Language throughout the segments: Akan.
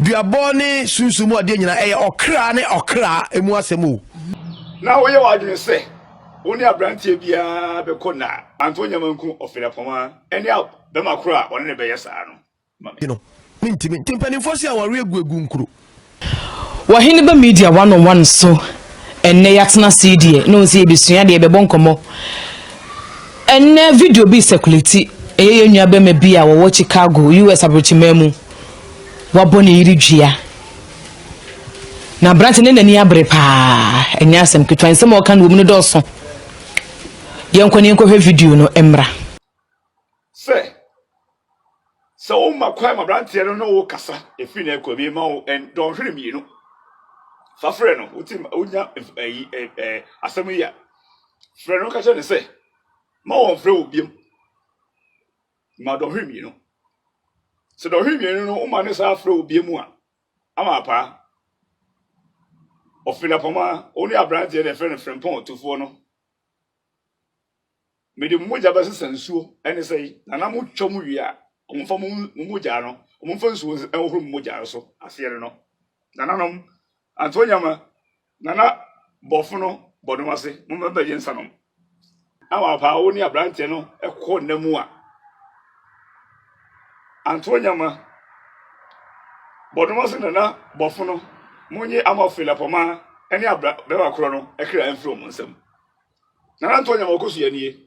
Duabɔ ne sunsum mu adeɛ nyinaa, ɛyɛ ɔkra ne ɔkra mu asɛm o. Na woyɛ w'adwene sɛ wo ne aberanteɛ biara bɛkɔ nna a, anto nyama nku ɔfenapɔma ne a bɛma koro a ɔne no bɛyɛ saa no ma me. No, mentimi. Nti mpaninfoɔ se awareɛ gu agu nkuro. Wɔ Heneba Media One on One so ɛnnɛ yɛatena ase yi deɛ na ɔnsɛ yɛbɛsua adeɛ, yɛbɛbɔ nkɔmmɔ. Ɛnnɛ video bi resekulati, ɛyɛ yɛn nua bɛma bi a wɔwɔ Chicago, US abrokyimaa mu. wabɔ ne yere dua na aberante ne n'ani abere paa ɛnyɛ asɛm ketewa nsɛm a ɔka no wɔ mu no dɔɔso yɛnkɔ ne yɛnkɔhwɛ video no mmra sɛ sɛ woma kwan ma aberanteɛ no ne wo kasa ɛfiri no akɔ bi ma wo dɔnhwere mmienu fa frɛ no wotim wonya asɛm yi a frɛ no ka kyerɛ ne sɛ ma wɔmfrɛ wo biam ma dɔnhwer mmienu. Sɛ dɔnhwer mmienu no woma ne saa frɛ obia mu a, ama apaa. Ɔfenapɔma, wo ne aberanteɛ na ɛfrɛ no frempɔn ɔtofoɔ no. Mede mo mogya bɛsesa nsuo, ɛne sɛi, na na mo twa mu wie a, ɔmo mfa mo mogyaa no, ɔmo mfa nsuo nhohoro mo mogyaa no so, aseɛ ne no. Nananom, Antonyama, Nana Bɔfo no bɔ nom ase, Momma bɛgye nsa nom. Na wɔapaa wo ne aberanteɛ no kɔ nna mu a, anto nyama. Bɔ nom ase Nana Bɔfo no, Monye Ama Felapɔma ne abra bɛrima korɔ no kra mfiri wɔn nsam. Nana Ntɔnyama ɔkɔ so yɛ nie.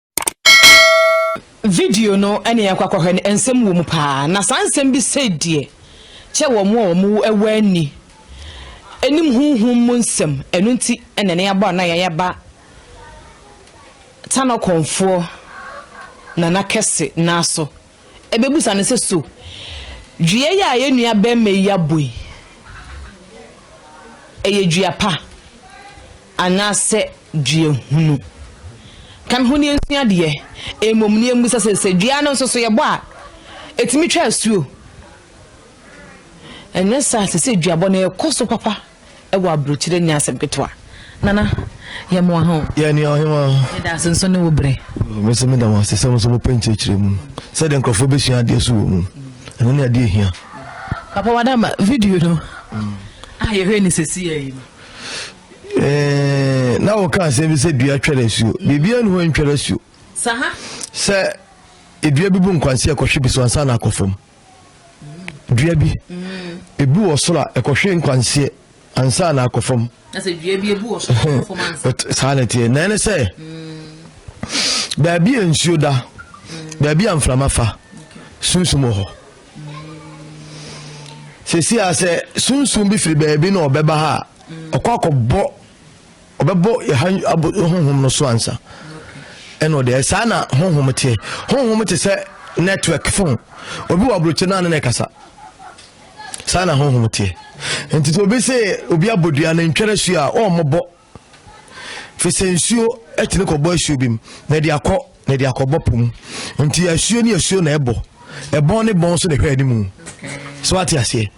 Video no ɛne yɛn kɔ akɔhwɛ no nsɛm wɔ mu paa na saa nsɛm bi sɛ deɛ kyɛ wɔn a wɔn ɛwɔ ani anim huhum mu nsɛm ɛno nti ɛna ne abɔ na yɛn aba tanɔkɔnfoɔ nana kɛse naaso. ɛbɛbisa no sɛ, So dua yi a yɛn nua barima yi abɔ yi, ɛyɛ dua pa anaasɛ dua hunu? Ka me ho ne yɛnsua adeɛ. Mmom ne yɛmmisa sɛ, sɛ dua no nso so yɛbɔ a, ɛtumi twa asuo? Ɛnyɛ saa, ɛsɛ sɛ duabɔ no ɛkɔ so papa. wɔ aburokyire nyɛ asɛm ketewa. Nana, yɛ moa ho. Yɛ nua ɔhemaa. Yɛda ase nso ne wo brɛ. Mese meda mo ase sɛ mo nso mo pɛ nkyerɛkyerɛ mu sɛdeɛ nkurɔfoɔ bɛsua adeɛ so wɔ mu. Ɛno ne adeɛ hia. Papa Wadama, video no a yɛhwɛ ne sɛsi yɛ yi no. Eh, na wɔka asɛm bi sɛ dua twɛrɛ asuo. Biribiara ne hɔ ntwɛrɛ asuo. Saha. Sɛ edua bi bu nkwansi ɛkɔhwe bi so ansa na akɔ fam. dua bi ebu wɔ soro a ɛkɔhwe nkwanseɛ ansa na akɔ fam saa na ɛteɛ na ɛne sɛ mm. baabi a nsuo da mm. baabi a mframa fa sunsum wɔ hɔ mm. sɛsi a sɛ sunsum bi firi baabi na ɔbɛba ha a ɔkɔ akɔbɔ ɔbɛbɔ yɛn abɔ honhom no so ansa ɛna ɔde ayɛ saa na honhom teɛ honhom te sɛ network phone obi wɔ aburokyi naa ne na ɛkasa saa na honhom teɛ nti sɛ obi sɛ obi abɔ dua na ntwɛrɛ su a ɔmmɔbɔ fi sɛ nsuo ɛtene kɔbɔ asuo bi mu na ɛde akɔ na ɛde akɔbɔ po mu nti asuo ne asuo na ɛbɔ ɛbɔn ne bɔn so na ɛhwɛ anim so wate aseɛ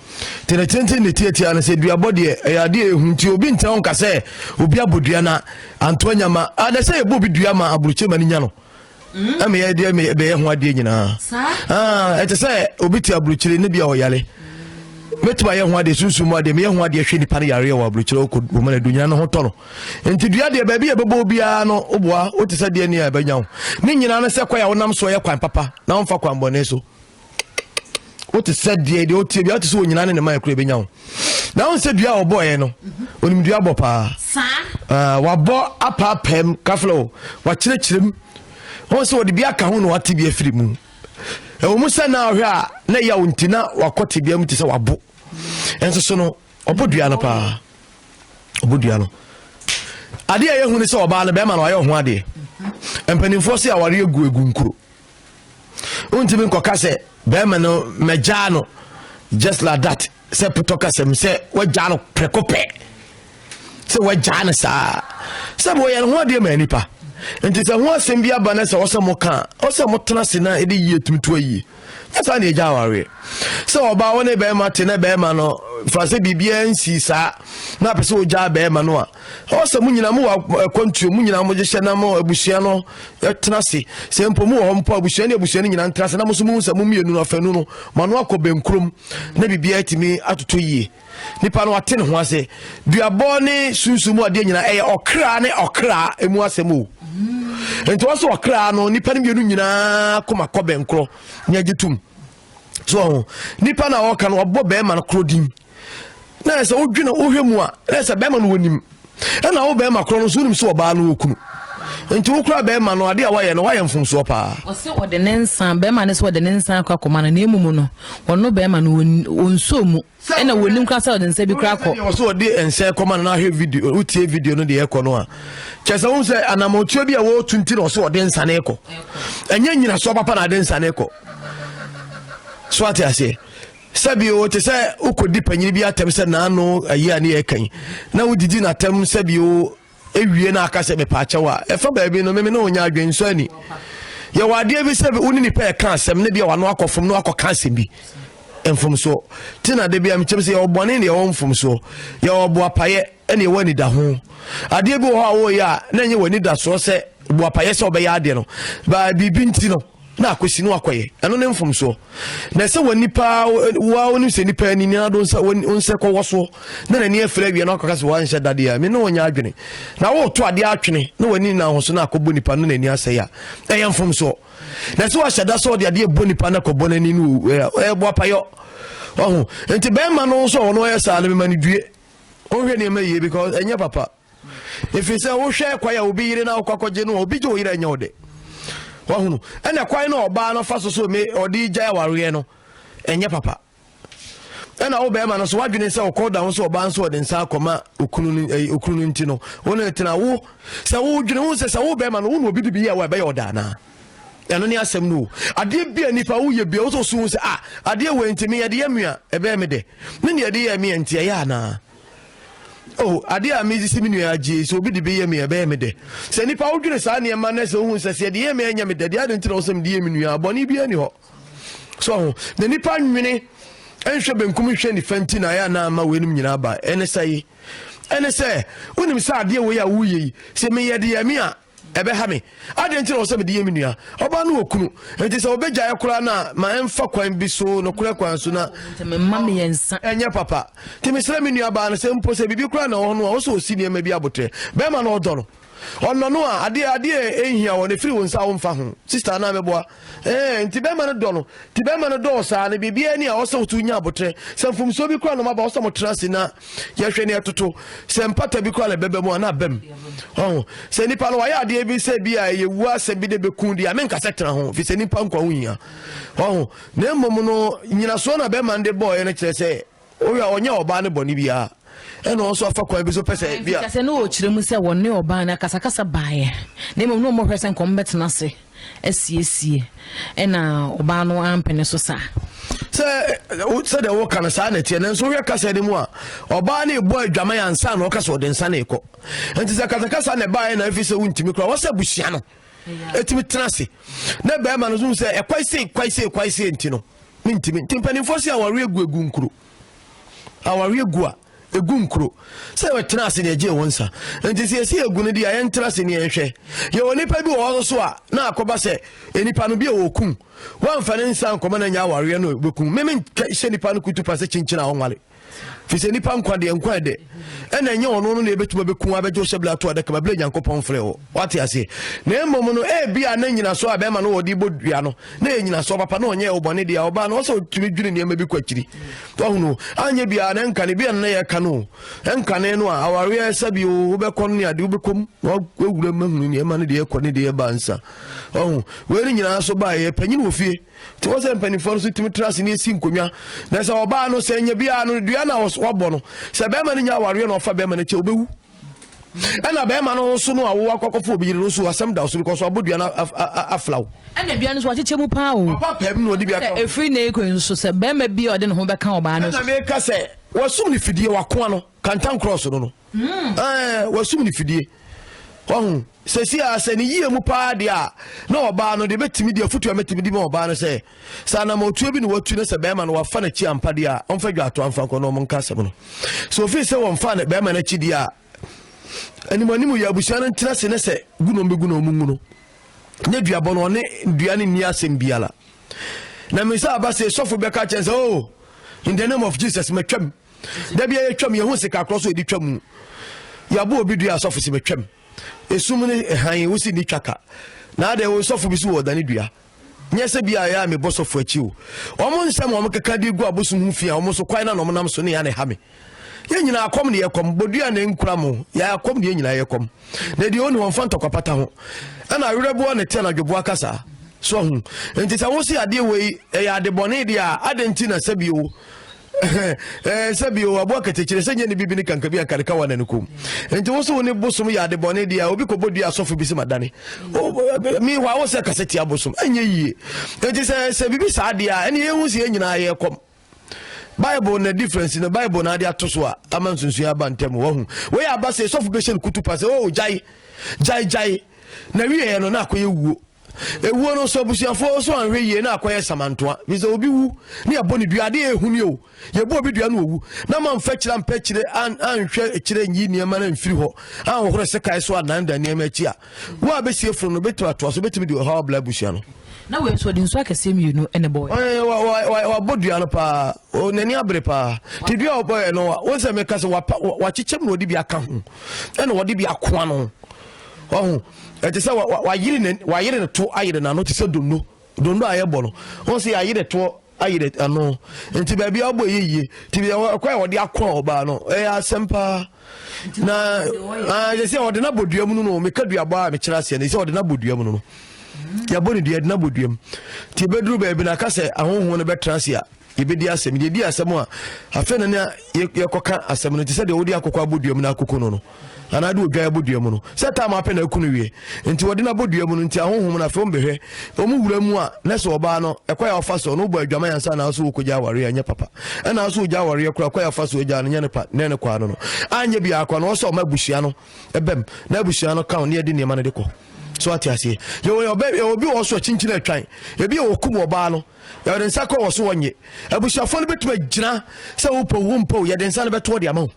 tenetenten ne tiatia no sɛ duabɔ deɛ ɛyɛ adeɛ ɛhu nti obi ntena nka sɛ obi abɔ dua na antoa nya ma adɛ sɛ yɛbɔ obi dua ma aburukyɛ ma no nya no mm. ɛmɛ yɛ deɛ bɛyɛ ho adeɛ nyinaa ah, ɛte sɛ obi te aburukyire ne bia ɔyare mɛtumi ayɛ ho adeɛ sunsum mu adeɛ meyɛ ho adeɛ hwɛ nipa no yareɛ wɔ aburukyire ɔkɔ wɔmana dunyina no ho tɔ no nti dua deɛ baabi a ɛbɛbɔ biara no woboa wote sɛ deɛ ni a ɛbɛnya wo ne nyinaa no sɛ kwan a wonam soɔ yɛ kwan papa na womfa kwan bɔne so wote sɛ deɛ deɛ wotie bia wote sɛ onyina ne ne ma ɛkura ɛbɛnya wo na wo sɛ dua a wɔbɔeɛ no onim dua bɔ paa ah, wabɔ apaapam kafla o wakyerɛkyerɛ mu wɔn sɛ wɔde bi aka ho na wate bi afiri mu ɛwɔ mu sɛ na ɔhwɛ a na ɛyɛ a nti na wakɔ tebea mu te sɛ wabo nso so no Ɔbɔ dua no paa. Ɔbɔ dua no. Adeɛ a ɛyɛ hu ne sɛ ɔbaa no bɛrima no ayɛ ɔho adeɛ. Mm-hmm. Mpanimfoɔ se awareɛ gu egu nkuro. Wontumi nkɔka sɛ bɛrima no mɛgyaa no just like that sɛ putɔ kasɛm sɛ wagyaa no prɛko pɛ sɛ wagyaa no saa sɛ bɛ wɔyɛ no ho adeɛ ma nipa nti sɛ ho asɛm bi aba no sɛ ɔsɛ mo ka ɔsɛ mo tena se na ɛde yie tumi to ayie ɛsa na ɛgya awareɛ sɛ ɔbaa wo ne bɛrima te na bɛrima no fa sɛ biribiara nsii saa na apɛ sɛ ɔgyaa bɛrima no a ɛwɔ sɛ mo nyina mo wɔ akwantuo mo nyina mo gyehyɛ na mo abusua no tena se sɛ mpo mo wɔ hɔ mpo abusua ne abusua no nyina ntena se na mo so mo sɛ mo mmienu no afanu no ma no akɔ bɛnkurom na biribiara atumi atotɔ yie nipa no ate ne ho ase duabɔ ne sunsun mu adeɛ nyinaa ɛyɛ ɔkra ne ɔkra emu asɛm o nti wɔn so ɔkra no nipa no mmienu nyinaa kɔma kɔ bɛn korɔ nyɛ gye tum so ɔho nipa na ɔka no ɔbɔ bɛrima no korɔ din na ɛsɛ wodwene wohwɛ mu a na ɛsɛ bɛrima no wɔnim ɛna wo bɛrima korɔ no nso wonim sɛ ɔbaa no ɔkunu nti wo kora bɛrima no adeɛ a woayɛ no woayɛ mfomsoɔ paa ɔsɛ ɔde ne nsa bɛrima no sɛ ɔde ne nsa akɔ akɔma no na ɛmu mu no ɔno bɛrima no ɔnsuo mu ɛna wɔnim kora sɛ ɔde nsa bi kora kɔ ɔsɛ ɔde nsa kɔma no na ahwɛ video wotie video no deɛ ɛkɔ no a kyɛ sɛ wohu sɛ anamɔtuo bi a wɔtu nti na ɔsɛ ɔde nsa ne kɔ ɛnyɛ nyinasoɔ papa na ade nsa ne kɔ so ate aseɛ Sɛbio te sɛ wokɔdi panyini bi atɛm sɛ naano ayi a ne yɛ kan na wodidi n'atɛm sɛbio ewie na aka sɛ mepaakyɛw a ɛfa baabi no meme ne wonya adwen nsɔ ani yɛwɔ adeɛ bi sɛ wo ne nipa ɛka asɛm ne bia wano akɔfom na wakɔka asɛm bi mfomsoɔ te na de bia mekyɛm sɛ yɛwɔ bɔne ne yɛwɔ mfomsoɔ yɛwɔ boapayɛ ɛne yɛwɔ anidaho adeɛ bi wɔ hɔ a wɔyɛ a na ɛnyɛ wɔ anidasoɔ sɛ boapayɛ sɛ wɔbɛyɛ adeɛ no baa biribi nti no na akwasi na wakɔyɛ ɛno ne mfomsoɔ na ɛsɛ wɔ nipa wa wonim sɛ nipa ani ne ado nsa nsɛ kɔwɔ soɔ na n'ani afiri awie na wakɔka sɛ wanhyɛ dadeɛ a me ne ɔnyɛ adwene na woto adeɛ atwene na w'ani na ahoso na akɔbɔ nipa no n'ani asɛe a ɛyɛ mfomsoɔ na ɛsɛ wahyɛ da sɛ ɔde adeɛ bɔ nipa no akɔbɔ n'ani no ɛbɔ apayɔ ɔho nti bɛrima no nso a ɔno ɔyɛ saa no mema no due ɔnhwɛ nneɛma yie because ɛnyɛ papa ɛfiri sɛ wohwɛ kwan a obi yere no a wokɔ akɔgye no a obi gye wo yerɛ nyɛ wo dɛ wahunu ɛna kwan no ɔbaa no fa so so me ɔde gyae awareɛ no ɛnyɛ papa ɛna wo bɛrima no so wadwene sɛ ɔkɔ da ho so ɔbaa nso ɔde nsa akɔma okunu no ɛyi eh, okunu no nti no wo ne tena wo sɛ wodwene ho sɛ sɛ wo bɛrima no wo na obi de bi yɛ wa ɛbɛyɛ ɔda anaa ɛno ne asɛm no o adeɛ bi a nipa woyɛ bi a wosɔ so hu sɛ a ah, adeɛ wɔ nti meyɛ de yɛ mmea ɛbɛyɛ me dɛ me ne ɛde yɛ mmea nti ɛyɛ anaa Oh, ade a medze si me nua agye yi, sɛ obi de bi yɛ me a, ɛbɛyɛ me dɛ. Sɛ nnipa wodwene saa nneɛma no sɛ wohu sɛ sɛ yɛde yɛ me a ɛnyɛ me dɛ deɛ, adɛn nti na ɔsɛ mede yɛ me nua a? Bɔne biara nni hɔ. So ho. Na nnipa nwene nhwɛ benkum nhwɛ nifa nti na ɛyɛ na ama weinom nyinaa ba. Ɛne sɛ yi. Ɛne sɛ, wonim sɛ adeɛ wei a woyɛ yi, sɛ meyɛ de yɛ me a, ɛbɛha me adɛn nti na ɔsɛ mede yɛ me nua ɔbaa no wɔ kunu nti sɛ ɔbɛgyaeɛ koraa no a ma ɛmfa kwan bi so nokorɛ kwan so na mema meyɛ nsa ɛnyɛ papa nti mesrɛ me nua baa no sɛ mpo sɛ biribi koraa na ɔhɔ no a ɔsɛ ɔsi nneɛma bi abotrɛ bɛrima no ɔdɔ no ɔnɔ no a adeɛ adeɛ ɛnhia wɔ no ɛfiri wo nsa a womfa ho sister anaa mɛboa Ɛɛ, nti bɛrima no dɔ no. Nti bɛrima no dɔɔ saa no, biribiara ni a ɔsɛ wotu nya abotrɛ. Sɛ mfomsoɔ bi koraa na ɔmaba, ɔsɛ motena ase na yɛhwɛ na ɛtoto. Sɛ mpata bi koraa na ɛbɛba mu a, na abam. Ɔho, sɛ nipa no wayɛ adeɛ bi sɛ bi a ɛyɛ wu asɛm bi de bɛku deɛ a, menka sɛ tena ho, firi sɛ nipa nkwa ho hia. Ɔho, na mmom no, nyinasoɔ na bɛrima no de bɔɔeɛ no kyerɛ sɛ, Owie a, ɔnyɛɛ ɔbaa no bɔne biara, ɛna ɔno nso afa kwan bi so pɛ sɛ ebia. Ɛmfiri sɛ na wɔkyerɛ mu sɛ wɔne ɔbaa no akasakasa baeɛ, na mmom na wɔhwɛ sɛ nka wɔbɛtena ase asiesie, ɛna ɔbaa no ampene so saa. Sɛ sɛdeɛ woka no saa na ɛteɛ, nanso wohwɛ kasa no mu a, ɔbaa no rebɔ adwaman ansa na ɔka sɛ ɔde nsa no rekɔ. Nti sɛ kasakasa na ɛbaeɛ na ɛfiri sɛ wontumi koraa, wɔsɛ abusua no ɛtumi tena ase na bɛrima no so sɛ ɛkwae sei kwae sei kwae sei nti no Mentimi. Nti mpanimfoɔ se awareɛ gu egu nkuro. Awareɛ gu a, egu nkuro. Sɛ yɛtena ase na yɛgye wɔn nsa. Nti sɛ yɛsi egu no deɛ a, yɛntena ase ne yɛnhwɛ. Yɛwɔ nipa bi wɔ hɔ nso a, na akɔba sɛ nipa no bi a wɔkum. Wɔamfa ne nsa ankɔma no anya awareɛ no, wɔbɛkum. Me menhyɛ nipa no kutupa sɛ kyinkyin a ɔnware. firi sɛ nnipa nkwa deɛ nkwa ɛdɛ ɛna ɛnyɛ ɔno no na ɛbɛtumi bɛku abɛgye hyɛ bla to adaka ma berɛ nyankopɔn frɛ hɔ wate aseɛ na mmom no ɛbi a na nyinasoɔ a bɛrima no wɔde bɔ dua no na yɛ nyinasoɔ papa na ɔnyɛ ɔbɔne deɛ a ɔbaa no ɔsɛ ɔtumi dwene nneɛma bi kɔ akyiri wahunu anyɛ biaa na nkane bi a na yɛka no nkane no a awareɛ sɛ bi wobɛkɔ no ne ade wobɛkɔm na wawura ma hunu nneɛma no deɛ ɛkɔ ne deɛ ɛba nsa ɔho wei no nyinaa so baeɛ panyin wɔ fie nti wɔn sɛ mpanimfoɔ no so tumi tena ase ne esi nkonnwa na sɛ ɔbaa no sɛ nya biara no dua na wɔabɔ no sɛ bɛrima no nya awareɛ na ɔfa bɛrima no kyɛ ɔbɛwu ɛna bɛrima no nso no a wowɔ akɔkɔfo obi yere no nso asɛm da so no kɔ so abɔ dua no afla wo ɛna dua no so wakyekyɛ mu paa o papa pɛm na ɔde bi aka ɛfiri na ɛkɔ nso sɛ bɛrima bi a ɔde ne ho bɛka ɔbaa no so ɛna meka sɛ wasum ne fidie wakoa no kantan cross no no mm. eh, wasum ne fidie ɔho sɛsi a sɛ ne yie mu paa deɛ a na ɔbaa no deɛ bɛtumi deɛ afotu a mɛtumi de ma ɔbaa no sɛ sɛ anamɔtuo bi na watu no sɛ bɛrima no wafa no akyi ampa deɛ a ɔmfa dwa ato amfa nkɔ na ɔmo nka asɛm no sɛ ofii sɛ wɔmfa no bɛrima no akyi deɛ a anim anim yɛ abusua no ntena se ne sɛ gu na ɔmbɛgu na ɔmo ngu no ne duabɔ no ɔne dua no nni asɛm biara na me sɛ aba sɛ sɔfo bɛka kyɛn sɛ o oh, in the name of jesus matwam da bia yɛtwam yɛhu sika korɔ so yɛde twa mu yɛabɔ obi dua asɔfo si mɛtwam ɛsum ne ɛhan wo si ne twa ka na adɛn wo nsɔfo bi so wɔ ɔdane dua nyɛ sɛ bi a ɛyɛ a mebɔ sɔfo akyi o ɔmo nsɛm ɔmo keka de gu abosom ho fi a ɔmo so kwan na na ɔmo nam so ne ya ne ha me yɛn nyinaa akɔm ne yɛkɔm bodua na nkura mo yɛ akɔm ne yɛn nyinaa yɛkɔm na deɛ ɔni wɔmfa ntɔkwapata ho ɛna awerɛboɔ ne te anadwoboa kasa so ho nti sɛ wo se adeɛ wei ɛyɛ adebɔne deɛ a adɛn nti na sɛbio Eh, sɛ bio aboa katekyerɛ sɛ nyɛ ne bibi ne kanka bi anka ne kawa na ne kom nti wo so wo ne bosom yɛ ade bɔne deɛ a obi kɔbɔ dua asɔfo bi sɛ madane mehɔ a wo sɛ kasɛ tia bosom ɛnyɛ yie nti sɛ sɛ biribi saa deɛ a ɛne yɛhu sɛ yɛ nyinaa yɛkɔm bible na difference na bible na ade ato so a ama nsunsua aba ntɛm wahu wei aba sɛ sɔfo bɛhyɛ no kutu pa sɛ o oh, gyae gyae gyae na wieɛ no na akɔyɛ wuo ewuo no nso abusuafoɔ nso anhwɛ yie na akɔyɛ samantoa fi sɛ obi wu ne yɛbɔ ne dua adeɛ ɛhu ne o yɛbɔ obi dua no owu na ma mfa kyerɛ ampɛ kyerɛ anhwɛ kyerɛ nyi nneɛma no mfiri hɔ anhohoro sekae so ananda nneɛma akyi a wo a bɛsie funu no bɛtumi atoa so bɛtumi de ɔhaw abla abusua no na wei nso ɔde nsu akɛseɛ mmienu ɛna bɔ wabɔ dua no paa n'ani abere paa te dua a wɔbɔɛ no wo sɛ meka sɛ wakyekyɛ mu na ɔde bi aka ho ɛna ɔde bi akoa no ɔho ɛte sɛ wayere ne wayere ne to ayere n'ano te sɛ dondo dondo a yɛbɔ no wɔn sɛ yɛayere toɔ ayere ano nti baabi a ɔbɔ yɛ yie nti bi ɛkɔ a wɔde akɔ a ɔbaa no ɛyɛ asɛm paa na ɛyɛ sɛ ɔde n'abɔ dua mu no no meka dua bɔ a mekyerɛ aseɛ no sɛ ɔde n'abɔ dua mu no no yɛbɔ ne dua ɛde n'abɔ dua mu nti ebɛduru baabi na aka sɛ ahohoɔ no bɛtena ase a Yɛbɛdi asɛm, yɛdi asɛm a, afei na nea yɛkɔka asɛm no te sɛ deɛ wode akokɔ abɔdua mu na akoko no no anaa de odwan abɔdua mu no sɛ tam apɛ na aku no wie nti wɔde no abɔdua mu no nti ahohom no afei ɔmbɛhwɛ ɔmu wura mu a na sɛ ɔbaa no ɛkɔ yɛ ɔfa soɔ no wobɔ adwama yɛ ansa naa so wokɔgya awareɛ ɛnyɛ papa ɛnaa so wogya awareɛ kora kɔ yɛ ɔfa soɔ gya no nyɛ ne pa ne ne kɔa no no anyɛ biaa kɔ no wɔ sɛ ɔma abusua no ɛbɛm na abusua no ka ne yɛde nneɛma no de kɔ so ate aseɛ yɛwɔ yɛwɔ bi wɔ so akyinkyini atwan ebi yɛ wɔkum ɔbaa no yɛde nsa kɔ wɔ so wɔ nye abusuafoɔ no bɛtumi agyina sɛ wopɛw wo mpɛw yɛde nsa no bɛtoɔ de ama wo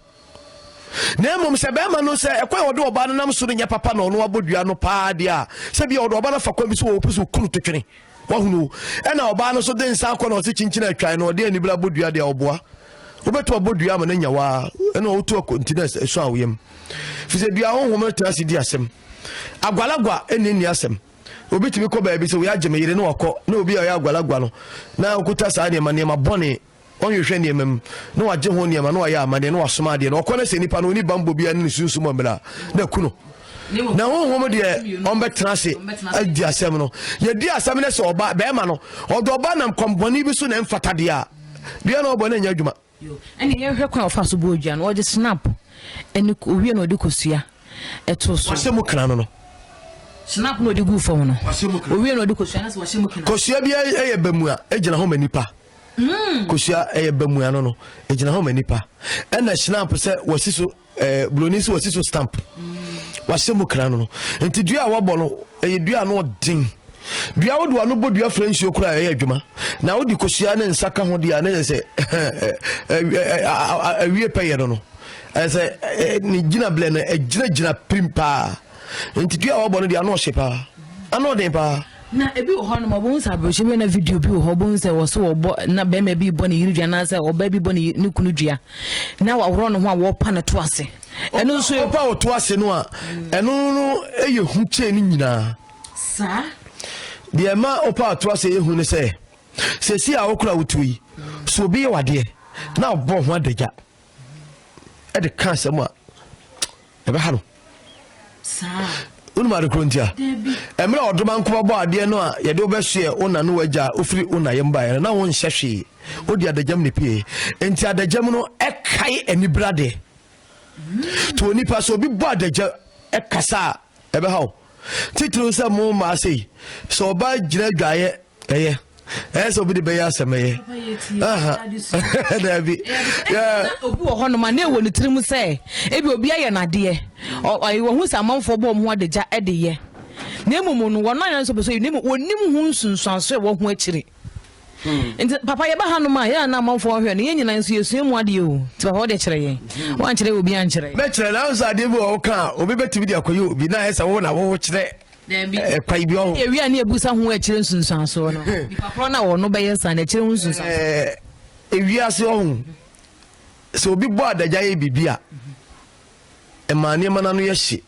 na mmom sɛ bɛrima no sɛ ɛkwan a ɔde ɔbaa no nam so no nyɛ papa na ɔno abɔ dua no paa deɛ a sɛ bia ɔde ɔbaa no afa kwan bi so wɔ ɔpɛ sɛ ɔkunu to twene wahunu ɛna ɔbaa no so de nsa akɔ na ɔse kyinkyini atwan no ɔde anibere abɔ dua deɛ ɔboa wobɛto abɔ dua ama no anya waa ɛna ɔwoto akɔnti no ɛsɔ awoyam fi sɛ dua honhom no tena ase di asɛm agwalagwa ɛnni nni asɛm Obi tumi kɔ baabi sɛ wɔagye me yere na wakɔ na obi a ɔyɛ agwalagwa no na ɔkuta saa nneɛma nneɛma bɔne ɔnhwehwɛ nneɛma mu na wagye ho nneɛma na wayɛ amadeɛ na wasoma adeɛ na ɔkɔ no sɛ nipa no ɔni bambɔ biara ne ne sunsum ɔmmera na aku no na honhom deɛ ɔmbɛtena ase adi asɛm no yɛdi asɛm no sɛ ɔba bɛrima no ɔde ɔba nam kɔmbɔne bi so na ɛmfata deɛ a deɛ na ɔbɔ no anya adwuma Yo, ɛne yɛn hwɛ kwan a ɔfaa so bɔɔ dua no, ɔde snap ɛne owia na ɔde kosua ɛtoo so. Wahyɛ mu kena no no. Snap na ɔde guu fam no. Wahyɛ mu kena. Owia na ɔde kosua no sɛ wahyɛ mu kena. Kosua bi ɛyɛ bamua, egyina hɔ ma nipa. Mm. Kosua ɛyɛ bamua no no, egyina hɔ ma nipa. Ɛna snap sɛ wasi so Eh, buroni sɛ wasi so stamp wahyɛ mu kra no no nti dua a wɔbɔ no ɛyɛ dua no ɔden dua wode wano bɔ dua frɛ nsuo koraa ɛyɛ adwuma na wode kosua ne nsa ka ho deɛ a ne yɛ sɛ awie pɛyɛ no no ɛsɛ ne gyina blɛ no ɛgyinagyina pirim paa nti dua a wɔbɔ no deɛ ano ɔhye paa ano ɔden paa Na ebi wɔ hɔnom a wɔbɛhu sɛ aberɛhyɛ bi na video bi wɔ hɔ wɔbɛhu sɛ wɔso wɔbɔ na bɛrima bi bɔ ne yere dua anaasɛ ɔbaa bi bɔ ne ne kunu dua na wɔaworɔ ne ho a wɔrepa no to ase ɛno nso ɔpa wɔ to ase no a ɛno no yɛ hu kyɛn ne nyinaa saa deɛ ɛma ɔpa ato ase yɛ hu ne sɛ sɛsi a wokora wotuo yi so obi yɛ wadeɛ na ɔbɔ ho adagya ɛde ka asɛm a ɛbɛha no wonim ade korɔ ntia ɛmerɛ ɔdoma nkoma bɔ adeɛ no a yɛde wobɛsoɛ wo na ne wagya wofiri wo nayɛ mbaeɛ no na wonhyɛ hwee wode adagyam ne pie enti adagyam no ɛkae anibra deɛ nti onipa sɛ obi bɔ adagya ɛkasa a ɛbɛhaw titiriw sɛ mo mmaa sei sɛ ɔbaa gyina adwaeɛ ɛyɛ ɛyɛ sɛ obi de bɛyɛ asɛm ɛyɛ daabi obi wɔ hɔnom a na ɛwɔ ne tirim sɛ ebi obi ayɛ n'adeɛ wɔhu sɛ amanfoɔ bɔ ɔmo adagya de yɛ na mmom no wɔn ayɛ nso pɛ so yi na mmom wɔnim ho nsunsuanso ɛwɔ ho akyiri hmm. nti papa yɛba ha nom a yɛn na amanfoɔ hwɛ no yɛn nyinaa nso yɛsua mu adeɛ o nti papa wɔde kyerɛ yɛn hmm. wɔankyerɛ obi ankyerɛ bɛkyerɛ nanso adeɛ bi wɔ wo ka a obi bɛtumi de akɔyɛ obi na ayɛ sɛ wo na wo kyerɛ Dabi. Ɛkwa ibi ɔho. Ɛyɛ wia ne ɛbusa ho akyire nsunsuansoɔ no. Nipa korɔ na ɔno bɛyɛ saa na akyire ho nsunsuansoɔ. Ewiase ɔho. Sɛ obi bɔ adagya yɛ biribi a, ɛma nneɛma no ano yɛ hye.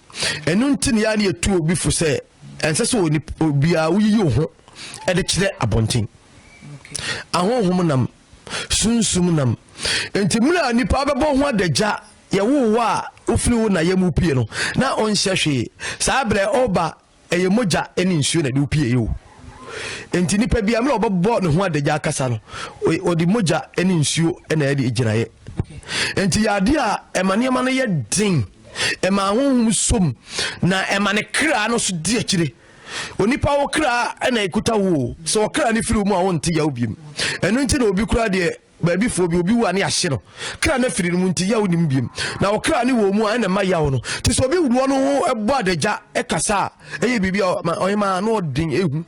Ɛno nti ne yɛa ne yɛtu obi fo sɛ ɛnsɛ sɛ obiara woyiyi wo ho ɛde kyerɛ abɔnten. Ahonhom nam sunsum nam nti mmerɛ a nipa bɛbɔ ho adagya yɛwoo wɔ a wofiri wo na yɛ mu pie no na ɔnhyɛ hwee saa berɛ ɔba ɛyɛ mogya ne nsuo na ɛde wo pie o nti nipa bia mmerɛ ɔbɛbɔ ne ho adagya akasa no ɔde mogya ne nsuo na ɛde gyinaeɛ nti yɛ adeɛ a ɛma nneɛma no yɛ den ɛma ahohom som na ɛma ne kra no so di akyire Onipa wo kra na ɛkuta wo o sɛ ɔkra no firi wo mu a wonte yaw biem ɛno nti na obi kura deɛ baabi foɔ bi obi wu a ne ahye no kra no firi no mu nti yaw nim biem na ɔkra ne wɔ mu a ɛna ɛma yaw no te sɛ obi wuruɔ no ho ɛbɔ adagya ɛkasa a ɛyɛ biribi a ɔhemaa na ɔden ehu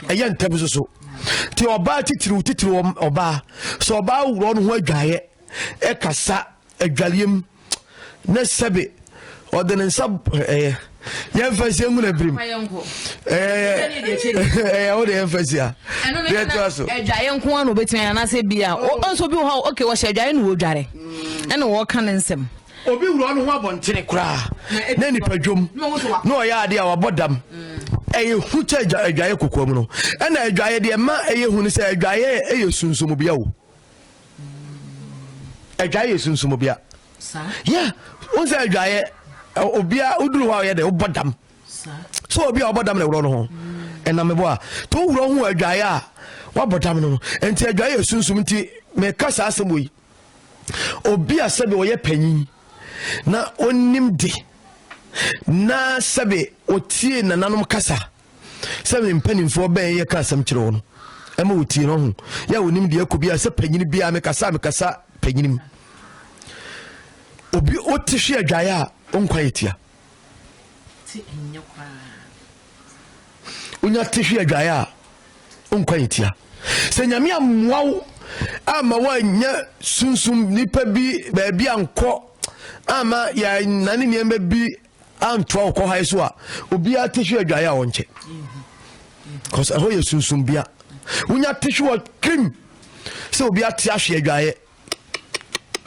ɛyɛ ntɛm so so te ɔbaa titiriw titiriw ɔbaa sɛ ɔbaa wuruɔ no ho adwaeɛ ɛkasa adwareɛ mu na sɛbe ɔde ne nsa ɛyɛ yɛmfa nsi ngu na birim ɛyɛ wode yɛmfa nsi a deɛ ɛtoa so adwaeɛ nko a na ɔbɛtumi ayɛ anaasɛ bi a nso bi wɔ hɔ ok wɔhyɛ adwaeɛ na wɔdware ɛna wɔka ne nsɛm obi wura no ho abɔntene koraa na nipa dwom na ɔyɛ adeɛ a wabɔ dam ɛyɛ hu kyɛ adwaeɛ kokoam no ɛna adwaeɛ deɛ ma ɛyɛ hu no sɛ adwaeɛ ɛyɛ sunsum bia o adwaeɛ yɛ sunsum obia yɛ wohu sɛ adwaeɛ obia woduru hɔ a ɔyɛ dɛ wobɔ dam sɛ obi a ɔbɔ dam na ɛworɔ no ho ɛnam mebɔ a nti woworɔ ho adwaeɛ a woabɔ dam no no ɛnti adwaeɛ yɛ sunsum nti meka saa asɛm wɔ yi obi a sɛbi ɔyɛ panyin na ɔnim de na sɛbi ɔtie nananom kasa sɛ me mpanimfoɔ bɛn yɛka asɛm kyerɛ wɔn ɛma wɔtie no ho yɛ a wɔnim deɛ ɛkɔ biara sɛ panyini biara mekasa a mekasa panyinim obi wote hwe adwaeɛ a wonkwa yɛ tia wonya te hwe adwaeɛ a wonkwa yɛ tia sɛ nyame ammoa wo ama woanyɛ sunsum nipa bi baabi ankɔ ama yɛnane nneɛma bi antoa ɔkɔ hae so a obiara te hwe adwaeɛ a ɔnkyɛ bcause ɛhɔ yɛ sunsumbea wonya te hwe wɔ krim sɛ obi ate ahwe adwaeɛ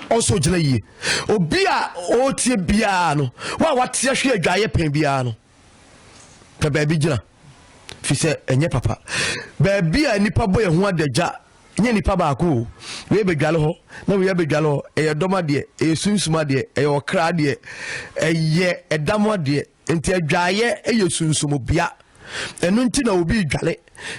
ɔsɔ gyina yie obi a ɔretie biara no wo a wate ahwe adwaeɛ pɛn biara no pɛ baabi gyina fi sɛ ɛnyɛ papa baabi a nnipa bɔ yɛn ho adagya Nyɛ nipa baako o, wei abɛdwale hɔ na wei abɛdwale hɔ, ɛyɛ dɔm adeɛ, ɛyɛ sunsum adeɛ, ɛyɛ ɔkra adeɛ, ɛyɛ ɛda mo adeɛ, nti adwaeɛ ɛyɛ sunsum bea, ɛno nti na obi redwale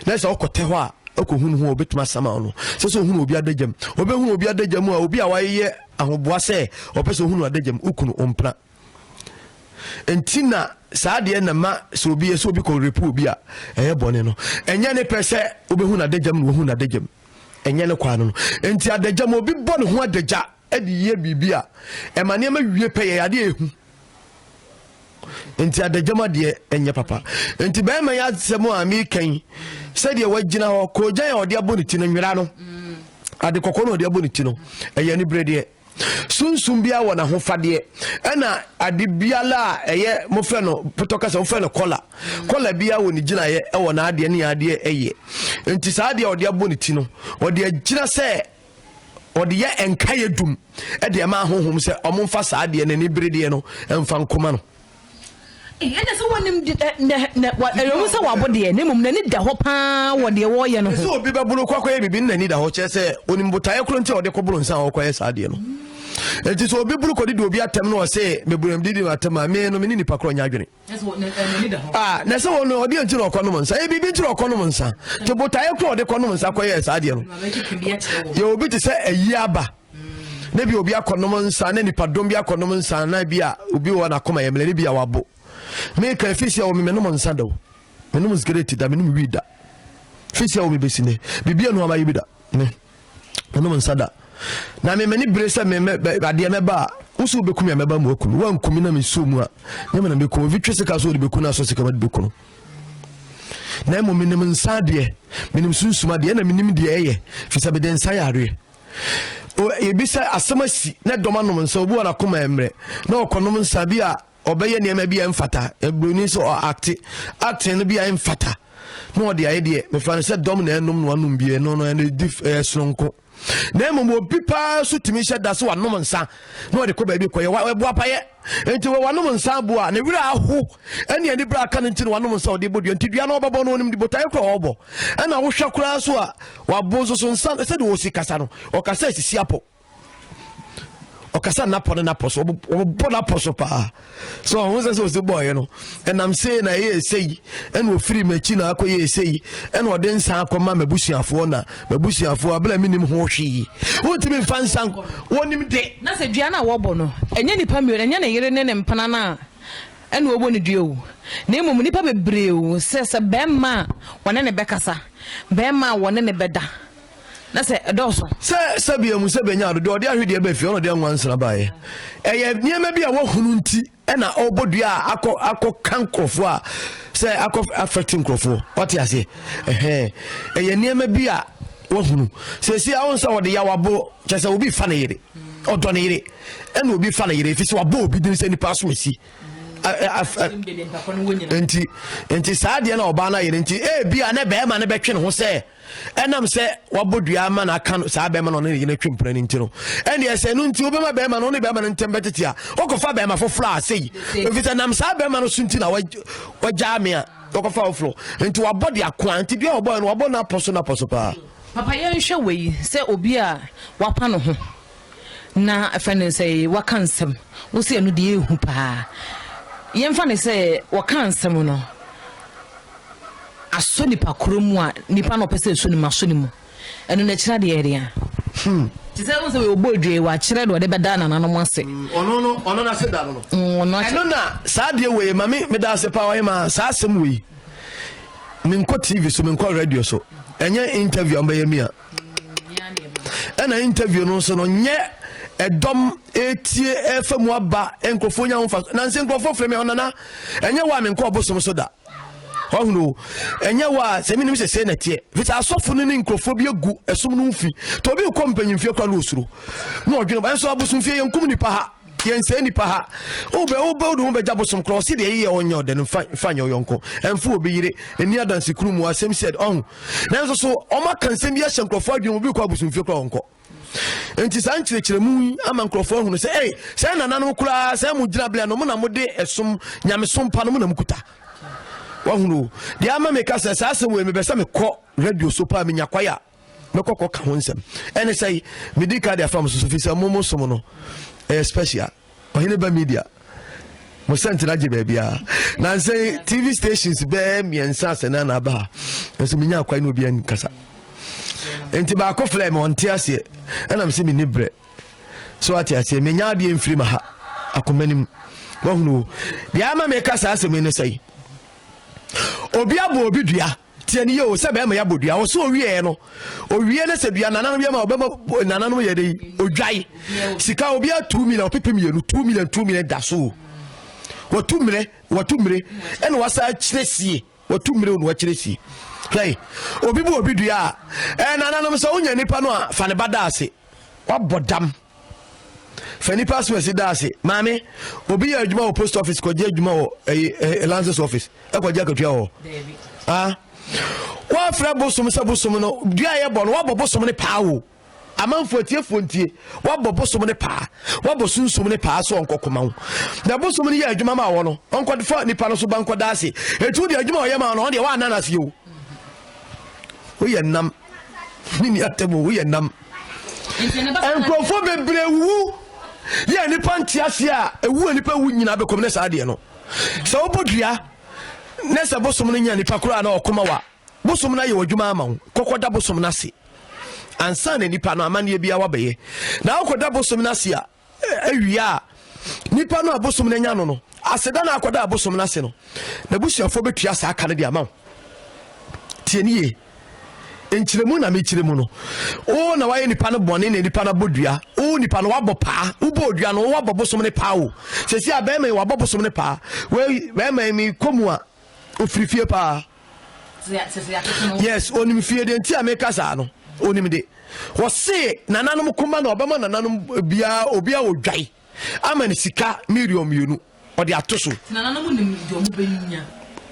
na sɛ ɔkɔtɛ hɔ a ɔkɔhunu ho a obɛtumi asama wo no, sɛ sɛ ɔhunu obi adagyam, ɔbɛhunu obi adagyam a obi a wayɛ ahoboa sɛ ɔpɛ sɛ ɔhunu adagyam, wo kunu, wo mpena. nti na saa deɛ na ma sɛ obi yɛ sɛ obi kɔ repu obi a ɛyɛ bɔne no ɛnyɛ ne pɛ sɛ wobɛhu no adagyam na wɔhu no adagyam ɛnyɛ ne kwaa no no nti adagyam obi bɔ ne ho adagya de yɛ biribi a ɛma nneɛma wie pɛ yɛ adeɛ ɛhu nti adagyam adeɛ ɛnyɛ papa nti bɛrima yɛ asɛm a mekɛn sɛdeɛ wagyina hɔ kɔgyan a ɔde abɔ ne ti no nwera no ade kɔkɔɔ na ɔde abɔ ne ti no ɛyɛ ne berɛ deɛ Sunsum biara wɔ n'ahofadeɛ. Ɛna ade biara a ɛyɛ mofrɛ no potɔ kasa mofrɛ no kɔla. Kɔla biara wɔ ne gyinaeɛ ɛwɔ n'adeɛ ne adeɛ ɛyɛ. Nti saa adeɛ a ɔde abɔ ne ti no ɔde agyina sɛ ɔde yɛ nkaeɛ dum ɛde ɛma ahohom sɛ ɔmo nfa saa adeɛ no ani beredeɛ no ɛnfa nkoma no. Ɛnna sɛ wɔnim de na na ɛyɛ wɔn sɛ wɔabo deɛ, na mmom n'ani da hɔ paa wɔ deɛ wɔreyɛ no ho. Sɛ obi bɛboro kɔ akɔyɛ biribi na n'ani da hɔ kyerɛ sɛ onim botaeɛ koro nti a ɔde kɔboro nsa a ɔrekɔyɛ saa deɛ no. Enti sɛ obi boro kɔdidi obi atɛm na ɔse meburam didi atɛm a me no me ne nipa korɔ nyɛ adwene. Ah, na sɛ wɔn no ɔdeɛ nti na ɔkɔnom nsa yɛ biribi nti na ɔkɔnom nsa te botaeɛ koro a ɔde kɔnom nsa kɔyɛ saa deɛ no. Yɛ obi te sɛ ayi aba. na bi obi akɔnom nsa na nipadɔm bi akɔnom nsa na bi a obi wɔ n'akoma yɛ mmerɛ ne bi a wabo meka ɛfiri sɛ wɔ me menom nsa da o menom sigareti da menom wii da firi sɛ wɔ me bɛsi ne biribi anu amayɛ bi da ne menom nsa da na me mani bere sɛ me adeɛ mɛba a wosi wobɛkumi a mɛba mu akunu woankumi na mesuo mu a ne mena mɛkunu obi twe sika so wode bɛkunu aso sika made bɛkunu na mmom menim nsa adeɛ menim sunsum adeɛ na menim deɛ ɛyɛ firi sɛ mede nsa yɛ adeɛ ebi sɛ asɛm asi na dɔm anom nsa obi wɔ n'akoma mmerɛ na ɔkɔnom nsa bi a ɔbɛyɛ nneɛma bi a ɛmfata buroni sɛ ɔakte acting no bi a ɛmfata na ɔde ayɛ deɛ mefa no sɛ dɔm na ɛnom na wanom bie no no ɛno di ɛyɛ soronko na mmom obi paa so tumi hyɛ da sɛ wanom nsa na ɔde kɔ baabi kɔyɛ ɛboa payɛ Enti wɔ wanom nsa abu a ne werɛ aho ɛne ani berɛ aka no nti na wanom nsa ɔde bɔ dua nti dua no ɔbɛbɔ no ɔnim de botaeɛ kora ɔbɔ ɛna wohwɛ koraa so a wabo nso so nsa sɛdeɛ ɔsi kasa no ɔkasa asisi apɔ ɔkasa napɔ ne napɔ so ɔbɔ napɔ so paa so ɔho sɛ sɛ ɔsi bɔɔyɛ no ɛnam sei na ɛyɛ ɛsɛ yi ɛna ɔfiri m'akyi na akɔyɛ ɛsɛ yi ɛna ɔde nsa akɔma m'abusuafoɔ na m'abusuafoɔ abere a menim ho hwee wontumi mfa nsa wɔnim de na sɛ dua no a wɔbɔ no ɛnyɛ nnipa mmienu ɛnyɛ ne yere ne ne mpena no a ɛna wɔbɔ no dua o na mmom nnipa bebree o sɛ sɛ bɛrima a wɔne ne bɛkasa bɛrima a wɔne ne bɛda na sɛ ɛdɔɔso sɛ sɛbea mu sɛ bɛnya ado deɛ ɔde ahwedeɛ bɛfie ɔna ɔde anwansena baeɛ ɛyɛ nneɛma bi a wɔhunu nti ɛna ɔbɔ dua a akɔ akɔ ka nkurɔfoɔ a sɛ akɔ afɛte nkurɔfoɔ ɔte aseɛ ɛhɛn ɛyɛ nneɛma bi a wahunu sɛsi awo sɛ ɔde yaw abo kyɛ sɛ obi fa ne yere ɔdɔ ne yere ɛna obi fa ne yere efi sɛ wabɔ obi din sɛ nipa so esi nti nti saa deɛ na ɔbaa no ayɛ no nti ebi a ne bɛrima no bɛtwe ne ho sɛ ɛnam sɛ wabɔ dua ama na aka no saa bɛrima na ɔne ne yere twe mpena no nti no ɛne ɛsɛ ɛno nti wobɛma bɛrima no ɔne bɛrima no ntɛm bɛtete a wokɔfa bɛrima foforɔ a sei ɛfiri sɛ nam saa bɛrima no so nti na wagyaa me a wɔkɔfa foforɔ nti wabɔ de akoa nti dua wɔbɔɛ no wabɔ no apɔ so no apɔ so paa papa yɛnhwɛ wei sɛ obi a wapa no ho na ɛfɛ ne sɛ waka nsɛm wo sɛ ɛno deɛ ɛhu paa yɛmfa ne sɛ wɔka nsɛm no asɔ nipa koro mu a nipa na ɔpɛ sɛ ɛsɔ ne mu asɔ ne mu ɛno na ɛkyerɛ adeɛ ɛdeɛ hmm. te sɛ wo sɛ wɔbɔ adwe wɔakyerɛ deɛ ɔde bɛda nananom ase hmm, ɔno no ɔno no ase da no no hmm, ɛno na saa adeɛ wei ma me meda ase paa ɔyɛ ma saa asɛm wei menkɔ tv so menkɔ radio so ɛnyɛ interview a mbɛyɛ mi a ɛna interview no nso no nyɛ ɛdɔm etie ɛfa mu aba nkurɔfoɔ nya ho fa nansi nkurɔfoɔ fira mi hɔ nana ɛnyɛ wa mi nkɔ ɔbosom so da ɔhunu ɛnyɛ wa sɛ mi nim sɛ sɛ na teɛ fisa asɔfo no ne nkurɔfoɔ bi egu ɛsom no fi tɔ obi kɔ mpanyinfie kora no osuro na ɔdwene ba nso abosom fie yɛn kum nipa ha. yɛnsɛe nnipa ha wobɛ wobɛ wode ho bɛgya bosom korɔ ɔse deɛ yeyɛ ɔnyɛ ɔdɛ no mfa nyɛ ɔyɔnko ɛmfo obi yere ɛni adanse kunu mu asɛm sɛd ɔho nanso so ɔmaka nsɛm bi ahyɛ nkurɔfoɔ adwene mu bi kɔ abosomfie korɔ ɔnkɔ nti saa nkyerɛkyerɛmu yi ama nkurɔfoɔ ahunu sɛ ei sɛ nananom koraa sɛ mo gyina berɛ no mo na mode ɛsom nyamesom pa no mo na mokuta wahunu deɛ ama meka sɛ saa asɛm wei mebɛ sɛ mekɔ radio so paa menya kwae a mɛkɔ kɔ ka ho nsɛm ɛne sɛ medi ka de afa mo so so fi sɛ momo som no ɛyɛ special ɔhene ba media mo sɛnte no agye baabiaa nansɛ tv stations bɛɛ mmiɛnsa sɛ na anaaba ha nso menya akwae ne obi ankasa nti baako flɛ me ɔnte aseɛ ɛnam sɛ menni berɛ so ate aseɛ menya adeɛ mfiri ma ha akoma nim wahunu deɛ ama meka saa asɛm yi ne sɛ obi abɔ obi dua Tie no yie o, sɛ bɛrima yi abɔ dua, ɔsɛ owieɛ no, owie na sɛ dua nananom yɛ ma ɔbɛma nananom yɛ dɛ odwae. Sika obiara two million, ɔpepe mmienu, two million, two million da so o. Watu mmerɛ, watu mmerɛ, ɛna wasa akyerɛ sie, watu mmerɛ o na wakyerɛ sie. Hwɛ, obi bu obi dua a, ɛɛ nananom sɛ wonya nipa no a, fa ne ba da ase, wabɔ dam. fa nipa so ɛsi da ase maame obi yɛ adwuma wɔ post office kɔgye adwuma wɔ ɛyi ɛɛ lances office ɛkɔgye akatua wɔ ah wɔafrɛ bosom sɛ bosom no dua yɛ bɔ no wɔabɔ bosom no paa o amanfo atiefoɔ ntie wɔabɔ bosom no paa wɔabɔ sunsum no paa so ɔnkɔkoma wo na bosom no yɛ adwuma ma wɔ no ɔnkɔfa nipa no so ba nkɔda ase ɛtu deɛ adwuma ɔyɛ ma no ɔno deɛ wɔananase o woyɛ nam Me nua tɛm o, woyɛ nam. Nkurɔfoɔ bebree wuwu yɛ nipa nte aseɛ a ewu a nipa wu nyinaa bɛkɔm ne saa adeɛ no. Sɛ wobɔ dua ne sɛ bosom no nya nipa koraa na ɔkoma wa bosom no ayɛ w'adwuma ama wo kɔkɔda bosom no ase ansa na nipa no amanneɛ biara wabɛyɛ na wokɔda bosom no ase a Awia a nipa no a bosom no anya no no aseda na akɔda a bosom no ase no, n'abusuafoɔ bɛtua saa ka no de ama wo. Tie ne yie. nkyerɛmu na mekyerɛ mu no o na wayɛ nipa no bɔne na nipa no abɔ dua o nipa no wabɔ paa wobɔ dua no wabɔ bosom no paa o sɛsi a bɛrima yi wabɔ bosom no paa wei bɛrima yi mekɔ mu a ofiri fie paa yes onim fie de nti a meka saa no onim de wɔse nananom koma na ɔbɛma nananom biaa obi a ɔdwae ama no sika million mmienu ɔde ato so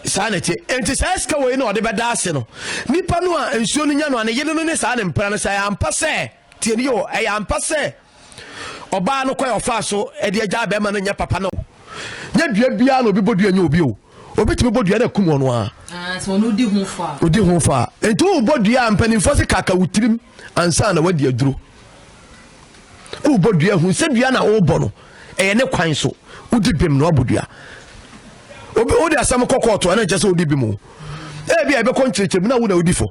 saa na ɛteɛ enti saa sika wɔ yi na ɔde bɛda ase no nipa no a nsuo no nya no a ne yere no ne saa ne mpra no sɛ ampa sɛ Tie me o, ɛyɛ ampa sɛ ɔbaa no kwan a ɔfaa so de agyaa bɛrima no nyɛ papa no. Nyɛ dua biara na obi bɔ dua nyɛ obi o. Obi tumi bɔ dua na akum ɔno ara. Ah, sɛ ɔno odi ho fɔ a. Odi ho fɔ a. Nti wobɔ dua a mpanimfoɔ se kaka wo tirim ansa na wadi aduro. Wobɔ dua hu sɛ dua na wobɔ no ɛyɛ ne kwan so. Wodi bem na wabɔ dua. Obi wode asɛm kɔ kɔɔto a na nkyɛ sɛ wodi bem o. Ebi a ɛbɛkɔ nkyerɛkyerɛ mu na wo na wodi fɔ.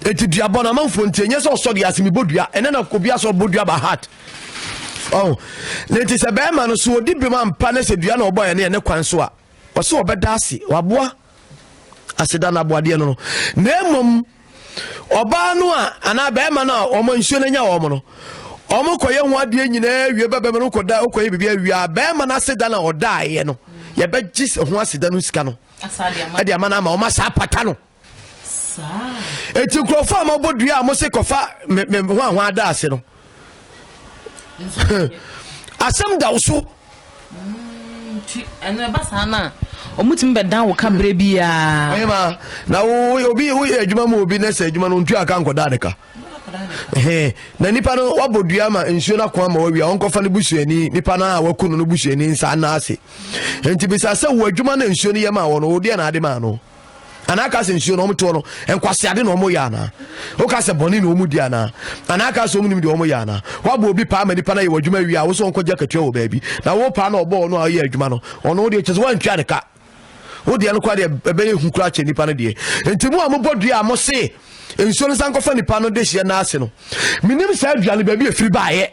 eti duabɔ no amanfoɔ nti ɛnyɛ sɛ ɔsɔ dua ase mebɔ dua ɛnɛ na obi asɔ bɔ dua ba hat ɔho ne nti sɛ bɛrima no so ɔdi bem ampa ne sɛ dua na ɔbɔ ɛne ɛne kwan so a ɔsɛ ɔbɛda ase waboa aseda no aboadeɛ no no na mmom ɔbaa no a anaa bɛrima no a ɔma nsuo no anya wɔn no ɔmo kɔyɛ ho adeɛ nyinaa wie bɛbɛma no kɔda wokɔyɛ biribi awie a bɛrima no aseda no a ɔdaeɛ no yɛbɛgye ho aseda no sika no ɛde ama no ama ɔma saa pata no eti nkurɔfoɔ a mɔbɔ dua a mose kɔfa me me ho ahoa ada ase no asɛm da wo so. nti ɛnna ɛba saa no a wɔtumi bɛdan wo ka berɛ biara. ɛyɛ ma na wo obi woyɛ adwuma mu obi na sɛ adwuma no ntua ka nkɔda ne ka na nipa no wabɔ dua ma nsuo no ako ama wawia ɔnkɔfa no busuani nipa no a waku no no busuani nsa anaa ase nti bisa sɛ wo adwuma no nsuo no yɛ ma wɔ no wodeɛ na ade maa no anaa aka sɛ nsuo na wɔn toɔ no nkwaseade na wɔn yɛ anaa woka sɛ bɔne na wɔn di anaa anaa aka sɛ wɔn nim deɛ wɔn yɛ anaa wabɔ obi paa ma nipa na yɛ wɔ adwuma wie a wosɛ wɔn kɔgye akatua wɔ baabi na wo paa na ɔbɔ ɔno a ɔyɛ adwuma no ɔno deɛ kyɛ sɛ wɔantwa ne ka wo deɛ no kora deɛ ɛbɛyɛ hu kora kyɛ nipa no deɛ nti mu a mobɔ dua a mo se nsuo no san kɔfa nipa no de hyɛ n'ase no menim saa dua no baabi efiri baayɛ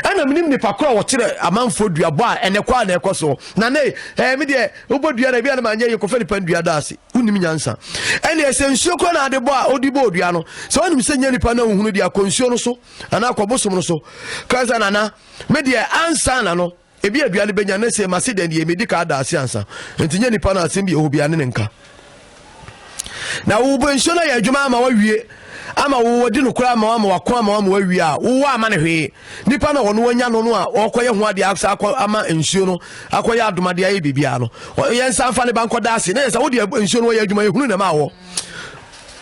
Ɛna menim nipa koro a wɔkyerɛ amanfoɔ duabɔ a ɛnɛ kɔ a na ɛkɔ so na ne ɛɛ me deɛ wobɔ dua na ebi a na manyɛ yi kɔfɛ nipa dua da ase wonim nyansa ɛne ɛsɛ nsuo koro na ade bɔ a ɔde bɔ dua no sɛ wonim sɛ nyɛ nipa na wohunu deɛ akɔ nsuo no so anaa akɔ bosom no so kasa nana me deɛ ansa na no Ebia aduan no benya ne se, Mase dɛn de, medi kan ada ase ansa. Enti nyɛ nipa no asɛm bio, obiara ne ne nka. Na wo wobɔ nsuo no ayɛ adwuma ama wawie, ama wo wadi no koraa ama ama wako ama ama wawie a, wowɔ ama no hwee. Nipa no a ɔno anya no no a ɔkɔyɛ ho adeɛ asa akɔ ama nsuo no akɔyɛ adomade ayɛ biribiara no, yɛn nsa mfa ne ba nkɔda ase. Na yɛ sɛ wode nsuo no wɔyɛ adwuma, ehunu na ɛma wɔ.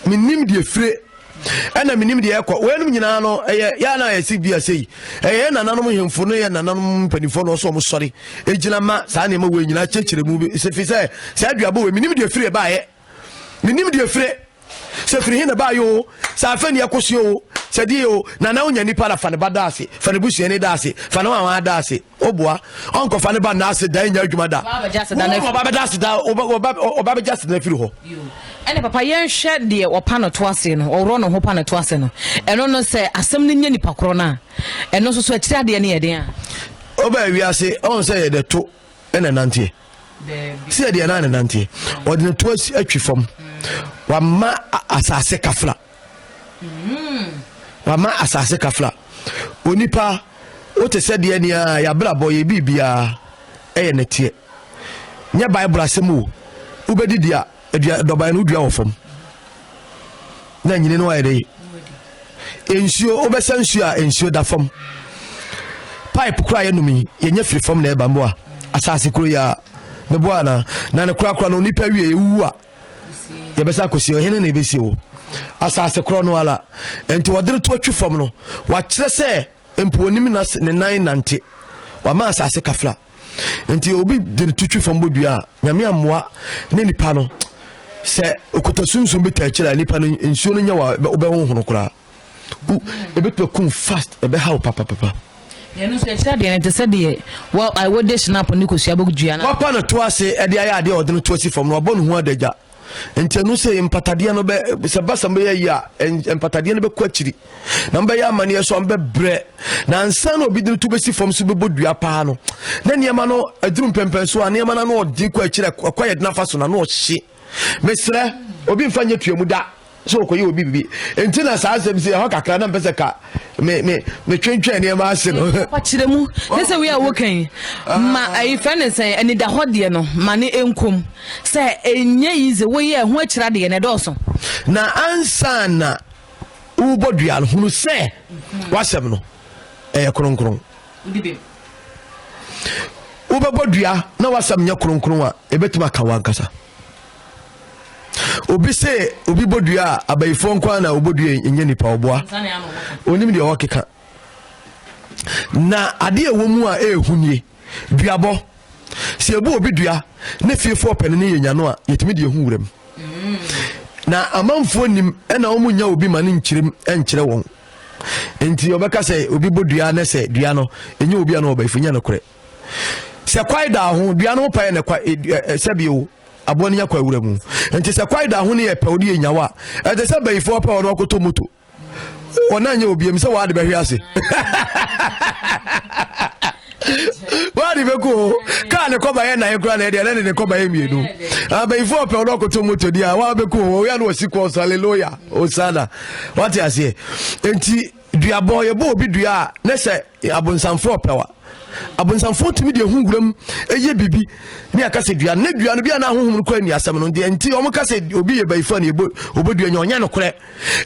Menim deɛ fire ɛna menim deɛ ɛkɔ wɔnom nyinaa no ɛyɛ yɛ na ayɛ se bi ase yi ɛyɛ nananom hemfo no yɛ nananom mpanimfoɔ no ɔsɔ ɔmo sɔre egyina ma saa nneɛma wɔ nyinaa kyerɛkyerɛ mu bi sefi sɛ saa aduabɔ wɔ menim deɛ firi ɛbaayɛ menim deɛ firi sɛ firi he na ɛbaayɛ o sɛ afɛ ni ɛkɔsi o sɛ deɛ o nana wonya nipa na fa ne ba da ase fa ne busua ne da ase fa ne wɔn da ase ɔboa ɔnkɔfa ne ba nna ase dan nya adwuma da ɔba bɛda ase da ɔba bɛgya ase na firi hɔ ɛne papa yɛnhwɛ deɛ ɔpa no to ase no ɔworɔ no ho pa no to ase no ɛno no sɛ asɛm no nyɛ nipa korɔ no a ɛno nso so akyiri adeɛ no yɛ den a ɔba awiase ɔhu sɛ yɛde to ɛna nanteɛ sɛ deɛ na ne nanteɛ ɔde ne to atwi fam wama asase kafra Wama asase kafra. Onipa, wote sɛ deɛ ni ara, yɛabrabɔ, yɛ biribiara ɛyɛ nɛteɛ. Nyɛ Bible asɛm o. Wobɛdi dua, adua, dɔban no wodua wɔ fam. Na nyini no ayɛ dɛ. Nsuo, wobɛsa nsuo a nsuo da fam. Pipe koraa yɛnom yi, yɛnyɛ firi fam na ɛba mmoa. Asase koro yi a, meboa anaa? Na ne korakora no, onipa wie, ɛwuwu a. yɛbɛsa akɔsi ɔhene na ɛbɛsi wo asase korɔ no ara nti wɔde no to atwi fam no wakyerɛ sɛ mpo onim na ne nan nante wama asase kafra nti obi de no to twi fam bɔ dua a nyame amoa ne nipa no sɛ okuta sunsum bi taa akyiri a nipa no nsuo no nyɛ wɔ wobɛhohono koraa Gu ebetumi akum fast ɛbɛha wo papapapa. Yɛn nso yɛkyerɛ adeɛ no te sɛ deɛ wɔ a wɔde hyinapo ne kosua bɔ dua no. Wapa no to ase ɛde ayɛ adeɛ a ɔde no to asi fam no wabɔ ne ho adagya. Nti ɛno sɛ mpatadeɛ no bɛ sɛ basam bɛyɛ yi a mpatadeɛ no bɛkɔ akyiri na mbɛyɛ amaneɛ so ambɛbrɛ na ansa na obi de no to bɛsi fam so bɛbɔ dua paa no na nneɛma no aduru mpɛmpɛn so a nneɛma no ano ɔde kɔ akyiri ɛkɔ yɛ de nafa so na ano ɔhye. mesrɛ obi mfa nyɛ tua mu da sɛ ɔkɔyɛ obi bibi nti na saa asɛm si ɛhɔ kakra na mpɛ sɛ ka me me metwentwɛn nneɛma ase no. ɔkyerɛ mu ne sɛ wei a woka yi ma ayi fɛ ne sɛn anidahɔ deɛ no ma ne nkom sɛ ɛnyɛ yi dze woyɛ ho akyira deɛ na ɛdɔɔso. na ansa na wobɔ dua no hunu sɛ wasɛm no ɛyɛ kronkron. wobɛbɔ dua na wasɛm nyɛ kronkron a ɛbɛtumi aka wankasa obi se obi bɔ dua a abayifoɔ nkoa na wɔbɔ dua nyɛ nipa ɔboa onim deɛ ɔkeka na adeɛ ɛwɔ mu a ɛɛhu nie duabɔ sɛ ɛbu obi dua ne fiefoɔ pɛne ne yɛ nyano a yɛtumi deɛ hu wuram na amanfoɔ nim ɛna wɔn nya obi ma ne nkyerɛm nkyerɛ wɔn nti ɔbɛka sɛ obi bɔ dua ne sɛ dua no ɛnyɛ obi a na ɔbaifo nyɛ nokorɛ sɛ kwae da ho dua no paɛ na kwa e, e, e, sɛbio aboa no nya kwa awura mu nti sɛ kwae da ho ne yɛ pɛ wode yɛ nyawa ɛte sɛ bayifoɔ pɛ ɔno akɔtɔ moto ɔna nyɛ obiam sɛ wɔade bɛhwe ase wade bɛkɔ o kaa ne kɔba yɛ nae kora na ɛdeɛ na ne ne kɔba yɛ mmienu abayifo ɔpɛ ɔno ɔkoto moto di a waa bɛkɔ o ɔyɛ no ɔsi kɔɔ so aleloya osana wate aseɛ nti duabɔ yɛbɔ obi dua a ne sɛ abonsamfo ɔpɛwa abonsamfo tumi deɛ ho wuram ɛyɛ biribi ne aka sɛ dua ne dua no bi a na ahohom no kɔ ani asɛm no deɛ nti ɔmo ka sɛ obi yɛ bayifo a ne yɛbɔ ɔbɛdua nya ɔnyɛ nokorɛ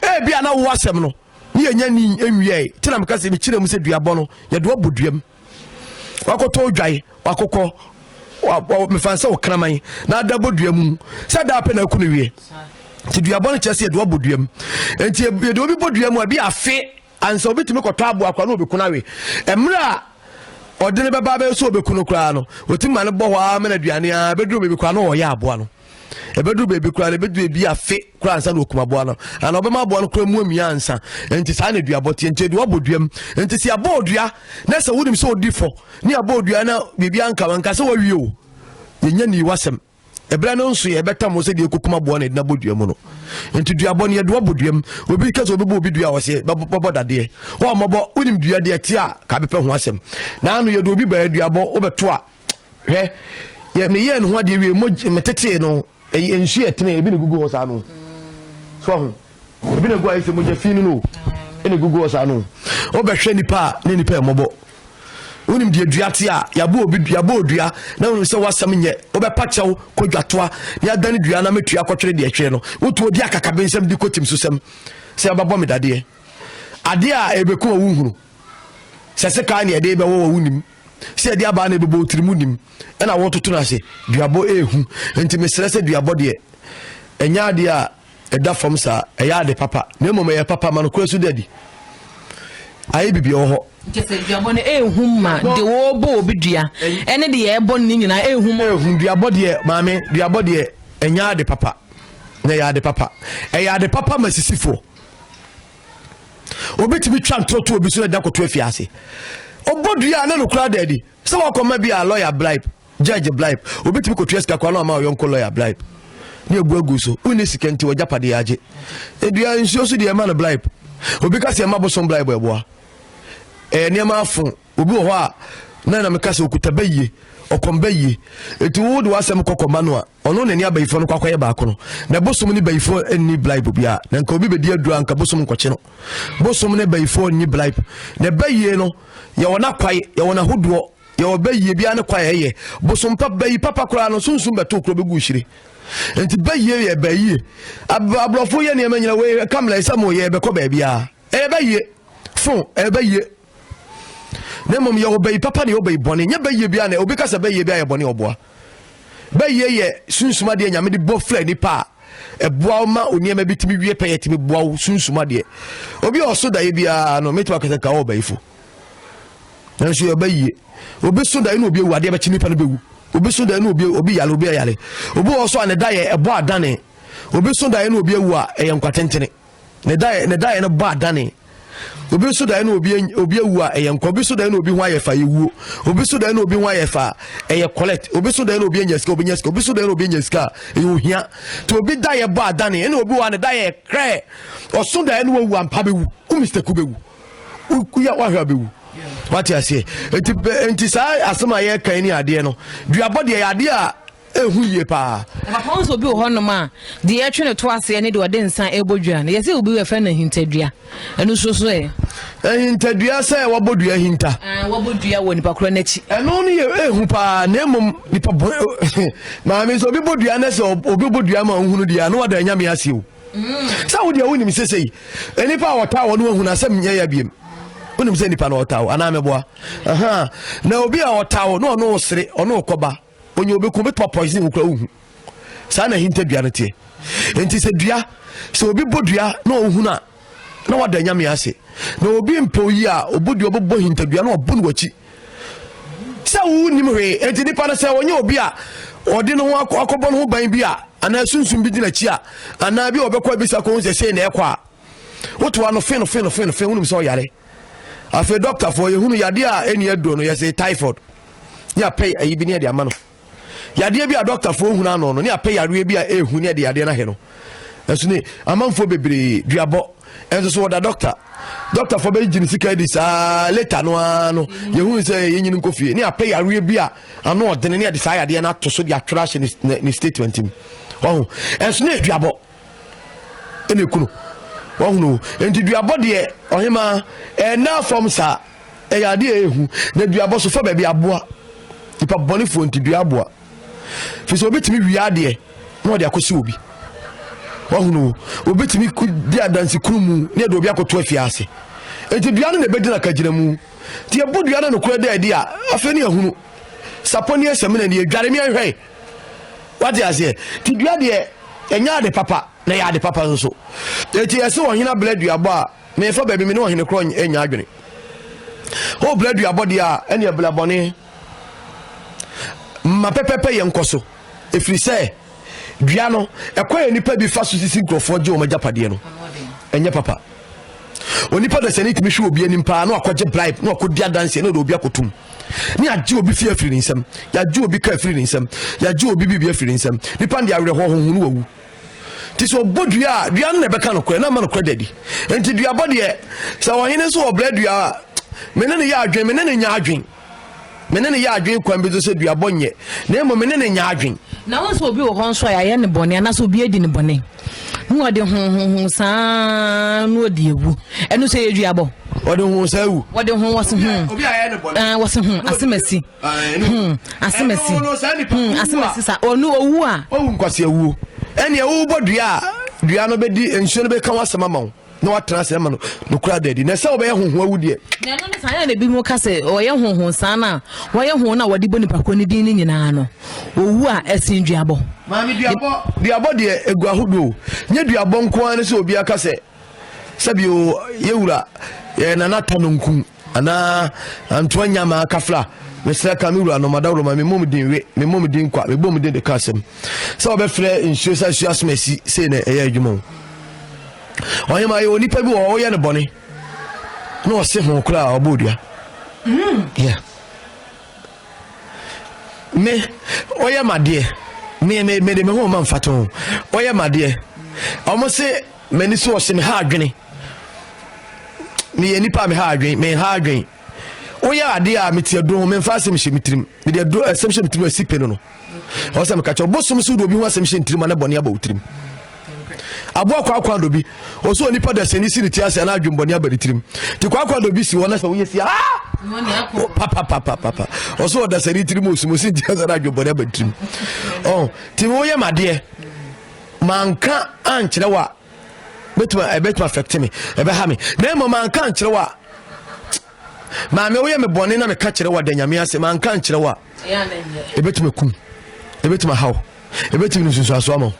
ɛbi a na wo asɛm no ne yɛnya ni nwiae nti na meka sɛ mekyerɛ mu sɛ duabɔ no yɛde ɔbɔ duam wakɔtɔ odwae wakokɔ mefa sɛ ɔkraman na ada bɔ dua mu sɛ da apɛ na aku no wie nti duabɔ no kyerɛ sɛ yɛde ɔbɔ duam nti yɛde obi bɔ dua mu a bi afe ansa obi tumi kɔtɔ aboa kwa na obɛku no awe mmerɛ a ɔde no bɛba bɛyɛ sɛ obɛku no koraa no ɔtumi ma no bɔ hɔ a mɛna aduane a bɛduru bɛbi kwa na ɔyɛ aboa no ɛbɛduru baabi koraa no ɛbɛduru ebi afe koraa ansa na ɔkum aboa no ana ɔbɛma aboa no koraa mu amia ansa nti saa na aduabɔ teɛ nti aduabɔ bɔ duam nti sɛ abɔ odua na sɛ wonim sɛ ɔdi fɔ ne abɔ odua na biribi anka wanka sɛ wawie o yɛnya nii wasɛm ɛberɛ no nso yɛ ɛbɛtam sɛ deɛ ɛkɔkum aboa no ɛdina bɔ dua mu no nti duabɔ no yɛdoa bɔ duam obi ka sɛ ɔbɛbɔ obi dua a ɔsɛ bɛbɔ dadeɛ wɔmmɔbɔ wonim dua deɛ te a ka bɛpɛ ho asɛm na ano yɛde obi baa duabɔ wobɛto a hwɛ yɛ meyɛɛ ne ho adeɛ wie mogye metetee no ɛyɛ nsu yɛ tene ebi na egugu hɔ saa no so ɔho ebi na egu ayɛ sɛ mogya fi no no ɛna egugu hɔ saa no ɔbɛhwɛ nipa a ne nipa ɛmɔbɔ wonim deɛ dua te a yɛabɔ obi yɛabɔ odua na wonim sɛ wasɛm nyɛ wobɛpa kyɛw kɔ dwatoa na yɛadane dua na mɛtua kɔtwere deɛ twere no wotu odi akakabe nsɛm de kɔtim so sɛm sɛ wobɛbɔ me dadeɛ adeɛ a ɛbɛku wɔ wo nhunu sɛ sekaa ne ɛde bɛwɔ wɔ wo nim sɛ ɛde abaa na ɛbɛbɔ wotiri mu nim ɛna wɔtoto no ase duabɔ ɛhu nti mesrɛ sɛ duabɔ deɛ ɛnyɛ adeɛ a ɛda fam saa ɛyɛ ade papa na mmom ɛyɛ papa ma no kora so dadi ayɛ biribi wɔ hɔ duabɔ no ɛhu ma de wɔbɔ obi dua ɛne deɛ ɛbɔ no ne nyinaa ɛhu ma ɛhu duabɔ deɛ maame duabɔ deɛ ɛnyɛ ade papa na ɛyɛ ade papa ɛyɛ ade papa ma sisifoɔ obetumi twa ntorɔto obi so na da koto afi ase ɔbɔ dua na nokora da adi sɛ wakɔma bi a lɔya bribe judge bribe obetumi kotua sika koraa na ɔma ɔyɔnko lɔya bribe ne agu agu so wonni sika nti wɔgya padeɛ agye edua nsuo so deɛ ɛma no bribe obi ka sɛ ɛma bosom bribe ɛboa ɛyɛ eh, nneɛma afo obi wɔ hɔ a na na meka sɛ okuta bɛyie ɔkɔm bɛyie eti wo de w'asɛm kɔ kɔma no a ɔno na ni abayifo no kwakɔyɛ baako no na bosom ne bayifo nni blaib bia na nka obi bɛdi adura nka bosom nkɔkye no bosom ne bayifo nni blaib na bayie no yɛwɔ no akwae yɛwɔ no ahodoɔ yɛwɔ bayie biara ne kwae ɛyɛ bosom pa bayi papa koraa no sunsum bɛto kuro bɛgu hyire nti bayie yɛ bayie aborɔfo yɛ nneɛma nyina wei kamla ɛsɛ mo yɛ bɛkɔ baabiara ɛyɛ bayie fo ɛyɛ bayie na mmom yɛ ɔbɛyi papa ne ɔbɛyi bɔne nyɛ bɛyie biara na obi ka sɛ bɛyie biara yɛ bɔne ɔboa bɛyie yɛ sunsum adeɛ nyame de bɔ fira nipa a ɛboa wo ma onneɛma bi tumi wie pɛ yɛ tumi boa wo sunsum adeɛ obi a ɔso daeɛ biara no mɛtumi akasɛ ka ɔbɛyifo nanso yɛ ɔbɛyie obi so daeɛ na obi awu adeɛ bɛkye nipa no bɛwu obi so daeɛ na obi obi yale obi ayale obi wɔ so a ne da yɛ ɛbɔ adane obi so daeɛ na obi awu a ɛyɛ nkwatentene Ne daeɛ ne daeɛ no bɔ adane. Obi nso daeɛ no obi obi awu a ɛyɛ nkwa. Obi nso daeɛ no obi ho ayɛ fa yɛ wuo. Obi nso daeɛ no obi ho ayɛ fa ɛyɛ collect. Obi nso daeɛ no obi anya sika obi nya sika. Obi nso daeɛ no obi anya sika ɛyɛ ohia. To obi daeɛ bɔ adane. Ɛna obi wɔ ne daeɛ krɛ. Ɔso daeɛ no wawu ampa bɛwu. Wo mistake bɛwu. Woyɛ wahwɛ abɛwu. Wate aseɛ. Nti nti saa asɛm a yɛka ni adeɛ no. Duabɔ deɛ yɛ adeɛ a ehu yie paa. Papa nso obi wɔ hɔnom a deɛ yɛtwe no to aseɛ ne deɛ ɔde nsa ɛbɔ dua no yɛsɛ obi yɛfrɛ no ahintadua ɛno nso so ɛ. ahintadua sɛ wɔbɔ dua hinta. Ah, wɔbɔ dua wɔ nipa korɔ n'akyi. ɛno no yɛ ehu paa na mmom nipa bɔ maame nso obi bɔ dua na sɛ obi bɔ dua ma ohunu deɛ ano wada nyame ase o. Mm. sɛ wo deɛ wonim sesei nipa a wɔtaa wɔ no ahunu asɛm nyɛ yɛ biem wonim sɛ nipa na ɔtaa wo anaa mɛboa na obi a ɔtaa wo na ɔno wo sere ɔno wo kɔba Onye obi ko bɛtuma poison wo kora wohu saa na ahinta dua no teɛ nti sɛ dua sɛ obi bɔ dua na ɔhunu a na wada nyame ase na obi mpɛ oyi a ɔbɔ dua ɔbɛbɔ hintadua na ɔbɔ no wakyi sɛ wonim hwee enti nipa no sɛ ɔnyɛ obi a ɔde ne ho akɔbɔ ne ho ban bi a anaa sunsum bi di n'akyi a anaa bi a ɔbɛkɔ abisa kɔ ho sɛ sei na ɛkɔ a wotoa no fe no fe no fe no fe wonim sɛ ɔyare afei dɔktafoɔ yɛhunu yadeɛ a ɛni aduro no yɛse typhoid ne apɛ ayi bi ne ɛde ama no yadeɛ bi a dɔktafoɔ hunu ano no ne apɛ yareɛ bi a ɛhu ne ɛde yadeɛ no ahɛ no ɛso ne amanfoɔ bebree duabɔ ɛnso so wɔda dɔkta dɔktafoɔ bɛgye ne sika di saa leta no ara no yɛhu sɛ yɛnyini nkɔ fie ne apɛ yareɛ bi a ano ɔdene ne ɛde saa yadeɛ no ato so de atwerɛ ahyɛ ne statement mu ɔho ɛnso ne aduabɔ ɛna ɛku no wahunu nti duabɔ deɛ ɔhema ɛna fam saa ɛyɛ adeɛ ɛhu na duabɔ so fa baabi aboa nipa bɔnefoɔ nti dua aboa fi sɛ obɛtumi wie adeɛ na ɔde akɔsi obi wahunu obɛtumi di adanse kunu mu ne ɛde obi akɔto afie ase nti dua no na ɛbɛgyina kagyina mu nti ɛbɔ dua no nokorɛ dɛ ɛde a afei ne ahunu sapɔ ne ɛsɛmina ne ɛdware ne ɛhwɛe wate aseɛ ti dua deɛ ɛnyɛ ade papa na ɛyɛ ade papa nso eti ɛsɛ ɔhene abla duabɔ a mefa baabi me ne ɔhene korɔ nya adwene o bla duabɔ deɛ a ɛne abla bɔne ma pɛpɛpɛ yɛ nkɔ so ɛfiri sɛ dua no ɛkɔ yɛ nipa bi fa so sisi nkurɔfoɔ gye wɔn agyapadeɛ no ɛnyɛ papa onipa dasani tumi hwɛ obi anim paa na wakɔgye bribe na wakɔdi adanseɛ na ɔde obi akɔtum ne yɛagye obi fie afiri ne nsam yɛagye obi ka afiri ne nsam yɛagye obi biribi afiri ne nsam nipa no de awerɛhoɔ hohunu wawu nti sɛ ɔbɔ dua a dua no na ɛbɛka nokorɛ na ama nokorɛ dadi nti duabɔ deɛ sɛ ɔhene nso wɔbrɛ dua a mene ne yɛ adwen mene ne nya adwen me ne no yɛ adwene kwan bi so sɛ duabɔ nyɛ na mmom me ne no nyɛ adwene na wohu sɛ obi wɔ hɔ nso a yɛayɛ ne bɔne anaasɛ obi adi ne bɔne na ɔde hohoho saa na ɔde awu ɛno sɛ yɛ duabɔ ɔde ho saa wu ɔde ho wɔse ho eh, wɔse ho asemasi ho asemasi ho asemasi sa ɔno owu a ɔwu nkwasi awuo ɛnneɛ wobɔ dua a dua no bɛdi nsuo no bɛka wasɛm ama wo na watena ase ama no nokora da adi na sɛ wɔbɛyɛ honho awu deɛ na ɛno ne saa yɛ na ebi mu ka sɛ ɔyɛ honho saa no a wɔyɛ honho no a wɔde bɔ nipa ko ne din no nyinaa no owu a ɛsen duabɔ maame duabɔ duabɔ deɛ egu ahodoɔ nye duabɔ nko ara ne sɛ obi aka sɛ sɛbi o yɛwura yɛ nana ta no nku anaa antoa nya maa kafla mesrɛ ka me wura no madaworo ma memmɔ mu din we memmɔ mu din kwa mebɔ mu din de ka asɛm sɛ wɔbɛfrɛ nsuo sɛ nsuo asoma asi sei na ɛyɛ adwuma o ɔhema yɛ onipa bi wɔ ɔyɛ no bɔne na ɔse ho koraa ɔbɔ odua yeah. me ɔyɛ madeɛ me me me de me ho ma mfato ɔyɛ madeɛ ɔmo se M'ani so ɔhyɛ me ha adwene. Meyɛ nipa a me ha adwene, me ha adwene. Woyɛ adeɛ a mete ɛduro ho, memfa asɛm hyɛ me tirim. Mede ɛduro asɛm hyɛ me tirim asi pe no no. Ɛwɔ sɛ meka kyɛ ɔbosom so wode obi ho asɛm hyɛ ne tirim a na bɔne aba wo tirim. Aboa kwaakwa do bi, ɔsɛ onipa da sɛni si ne ti ase a na adwembɔne aba ne tirim. Te kwaakwa do bi si hɔ na sɛ woyɛ si a papapapapa ɔsɛ ɔda sɛni tirim osum osi nti sɛ na adwembɔne aba ne tirim. Ɔn, te woyɛ madeɛ. manka ankyerɛ wo a bɛtumi ɛbɛtumi affect me ɛbɛha me na mmom manka ankyerɛ wo a maame woyɛ me bɔne na meka kyerɛ wo a da nyame ase manka ankyerɛ wo a ɛbɛtumi kum ɛbɛtumi ahaw ɛbɛtumi no nsunsuasoɔ ama wo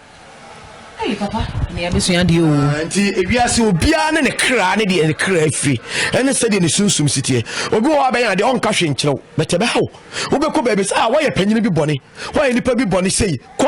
ah, nti ewiase obiara ne ne kra ne deɛ ne kra afiri ɛne sɛdeɛ ne sunsum si teɛ obi wɔ hɔ abɛyɛ adeɛ ɔnka hwe nkyerɛw bɛtɛ bɛhaw wobɛkɔ baabi sɛ a ah, woayɛ panyini bi bɔne woayɛ nipa bi bɔne sei kɔ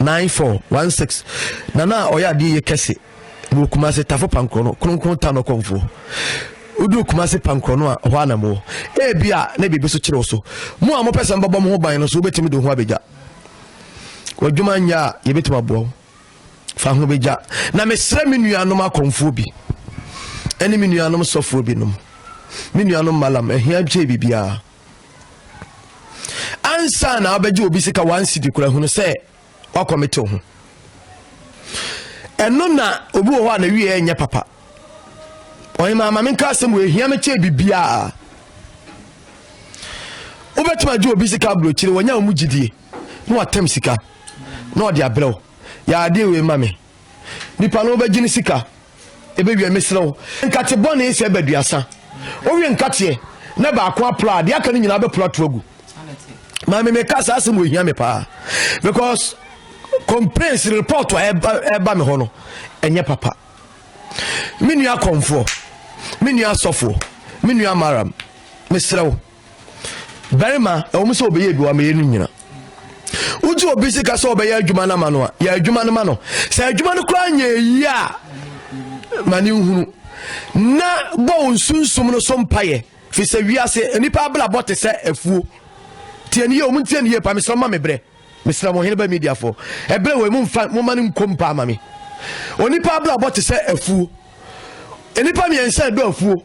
nine four one six nana a ɔyɛ adeɛ yɛ kɛse wɔ kumase tafo pankorɔ no kronkron ta no kɔnfoɔ wodu kumase pankorɔ no a hɔ anam wɔ ebi a na biribi so kyerɛw so mo a mopɛ sɛ mbɛbɔ mo ho ban no so wobɛtumi de ho abɛgya wadwuma nyɛ a yɛbɛtumi aboa wo fa ho bɛgya na mesrɛ me nuanom akɔnfoɔ bi ɛne me nuanom sɔfoɔ binom me nuanom malam ahia kyɛ biribiara ansa na abɛgye obi sika one cedi kura hunu sɛ wakɔmete ho ɛno na obi wɔ hɔ a na wie ɛnyɛ papa ɔyɛma ama me nka asɛm wɔ ehia me kyɛ biribiara wobɛtumi agye obi sika aburokyire wɔnyɛ wɔn gyidie na watam sika na ɔde abrɛw yɛ adeɛ wei ma me nipa no wobɛgye ne sika Ebe wiɛ mesrɛ wo nkate bɔne sɛ ɛba aduasa wowie nkateɛ na baako apra a deɛ aka no nyinaa bɛpra ato agu maame meka saa asɛm wɔ hia me paa because complaints report a ɛba me hɔ no ɛnyɛ papa me nua kɔmfoɔ me nua asɔfoɔ me nua maram mesrɛ wo barima ɛwɔ mu sɛ ɔbɛyɛ bi wamɛyɛ no nyina wogye obi sika sɛ ɔbɛyɛ adwuma no ama no a yɛ adwuma no ma no sɛ adwuma no koraa nyɛ ɛyi a ma ne nhunu na bɔ wo nsunsum no so mpayɛ fi sɛ wiase nnipa abrabɔ te sɛ afuo tiɛ ne yɛ ɔmu ntiɛ ne yɛ pa mesrɛ ma mebrɛ mesrɛ mo hene ba mediafoɔ ɛberɛ wɔ mu mfa moma no nkom paa ma me onipa abrabɔ te sɛ afuo nnipa mmiɛnsa ɛdɔ afuo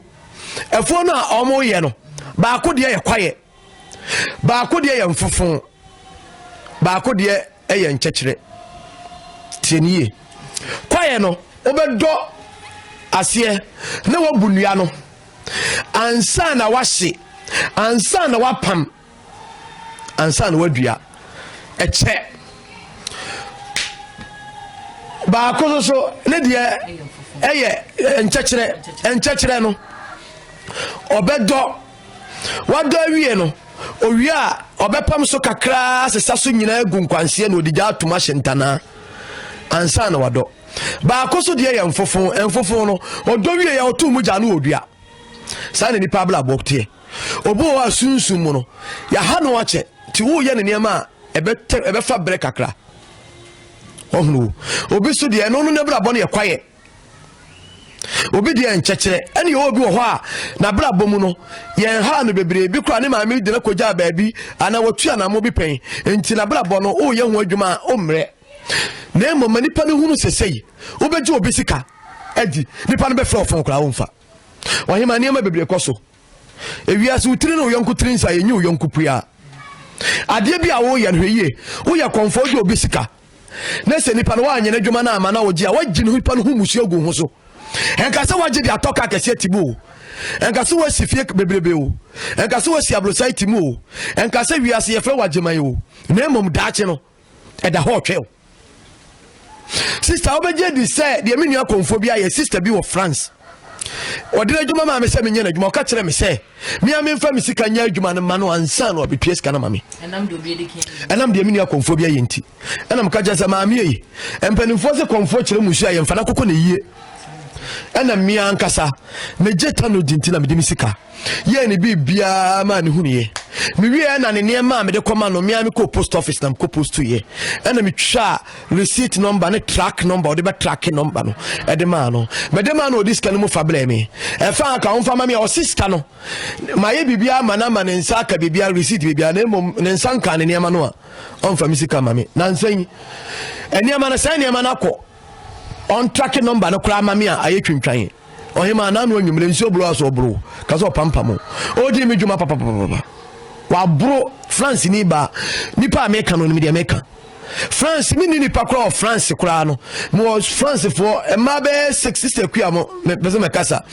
ɛfoɔ no a wɔyɛ no baako deɛ yɛ kwaeɛ baako deɛ yɛ mfofo baako deɛ yɛ nkyɛkyerɛ tie ne yie kwaeɛ no wobɛdɔ aseɛ na wabu nnua no ansa na wahye ansa na wapam ansa na wadua ɛkyɛ baako no so ne deɛ ɛyɛ nkyɛkyerɛ nkyɛkyerɛ no ɔbɛdɔ wadɔ awie no owie a ɔbɛpam so kakraa sesa so nyinaa gu nkwanseɛ na ɔde gya atom ahyɛ ntanaa ansa na wadɔ baako so deɛ yɛ mfofo mfofo no ɔdɔ wie yɛ ɔto mu gya no ɔdua saa na nipa abla abɔ teɛ Obi wɔ hɔ a sunsum mu no, yɛaha no akyɛ nti woyɛ ne nneɛma a ɛbɛfa berɛ kakra. Ɔhunu wo. Obi so deɛ ɛno no n'abrabɔ no yɛ kwaeɛ. Obi deɛ nkyɛkyerɛ ɛne yɛwɔ obi wɔ hɔ a n'abrabɔ mu no yɛn ha no bebree bi koraa ne maame de no kɔgyaa baabi anaa wɔtu anammo bi pɛn nti n'abrabɔ no woyɛ ho adwuma a ɔmmerɛ na mmom ma nipa no hunu sesei wobɛgye obi sika adi nipa no bɛfrɛ ɔfon koraa womfa ɔhema nneɛma bebree kɔ so ewiase wo tiri ne wo yɔnko tiri nsa yɛnyi wo yɔnko pua adeɛ bi a woyɛ no hwɛ yie woyɛ kɔmfɔ wogye obi sika na sɛ nipa no woanyɛ n'adwuma no ama na wogye a woagye ne nipa no ho musuo gu ho so ɛnka sɛ woagye de atɔ ka kɛseɛ ti mu o ɛnka sɛ woasi fie bebrebe o ɛnka sɛ woasi aborosae ti mu o ɛnka sɛ wiase yɛfrɛ wagyeman o na mmom daakye no ɛda hɔ ɔtwɛw sista wobɛgye di sɛ deɛ me nua kɔmfoɔ bi ayɛ sista bi wɔ france ɔde n'adwuma maa me sɛ menyɛ n'adwuma ɔka kyerɛ me sɛ mea memfa me sika nyɛ adwuma no ma no ansa no ɔbɛtua sika no ma me ɛnam deɛ me nua kɔmfoɔ bi ayɛ nti ɛna meka kyerɛ sɛ maame ei mpanimfoɔ sɛ kɔmfoɔ kyerɛ mu nsu a yɛmfa no akokɔ ne yie ɛna mmea ankasa megye tanodi nti na mede me sika yɛɛ ne biribiaa maa ne hunuiɛ mewieɛ na ne nneɛma a mede kɔma no mmea mekɔɔ post office na mekɔ postuiɛ ɛna metwaa receipt number ne track number ɔde bɛtrake number no ɛde maa no mede maa no ɔde sika no mu fa brɛ me ɛfa aka womfa ma me a ɔse sika no mayɛ biribiaa ma no ama ne nsa aka biribiaa receipt biribiaa na mmom ne nsa nka ne nneɛma no a ɔmfa me sika ma me nansɛ yi nneɛma no sɛ nneɛma no akɔ Ɔntrake nɔmba no koraa ma me a ayɛ twintwan. Ɔhemaa no ano anwummere nsuo boro a so ɔboro ka sɛ ɔpampam o. Ɔredii me dwuma papapapapa. Waboro France ni baa. Nipa a meka no nim deɛ meka. France me ni nipa koraa wɔ France koraa no. Mewɔ Francefoɔ mmaa bɛyɛ six sister kua mo mepɛ sɛ mɛkasa.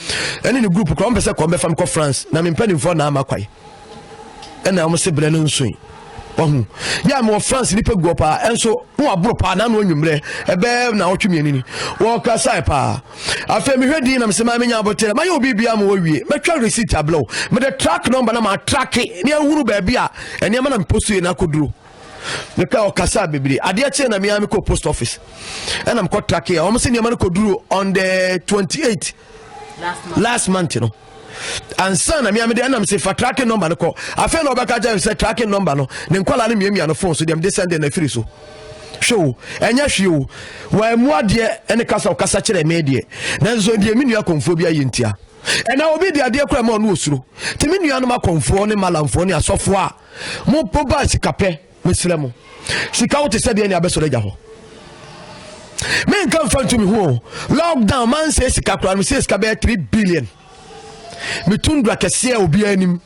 Ɛne ne group koraa wɔmpɛ sɛ kɔm bɛfa me kɔ France na mempɛ nimfoɔ na ama kwae. ɛna wɔn se brɛ no nso yi wahu yɛ a mewɔ france nipa guɔ paa ɛnso na waboro paa na ano anwummerɛ ɛbɛɛ na ɔtwe mmienu ni wɔkura sae paa afei mehwɛ din na mesɛ maa menya abotire mayɛ obi bia ma wɔwie mɛtwa receipt ablɛw mede track number na maatrake ne ahunu baabi a ɛnneɛma na meposto yɛ no akɔduro meka ɔkasa bebree adeɛ kyee na mea mekɔ post office ɛna mekɔ trake a wɔm sɛ nneɛma no kɔduru on the 28 last month no ansa na mea mede ɛnam se fa tracking number no kɔ afei na ɔbɛka kyerɛ sɛ tracking number no ne nkwadaa no mmiamia no fon so deɛ mede sɛn deɛ na afiri so hwɛ o ɛnyɛ hwee o wɔamu adeɛ ɛne kasa ɔkasa kyerɛ me deɛ nanso deɛ me nua kɔnfoɔ bi ayɛ ntia ɛna obi de adeɛ kora ma ɔno osuro te me nuanom akɔnfoɔ ne malamfoɔ ne asɔfoɔ a mo ba sikapɛ Mesrɛ mo, sika wo te sɛ deɛ ne abɛsɔrɔ agya hɔ. Menka mfa ntumi ho o. Lockdown man sɛ sika koraa no sɛ sika bɛyɛ 3 billion. Metundra kɛseɛ a obiara anim.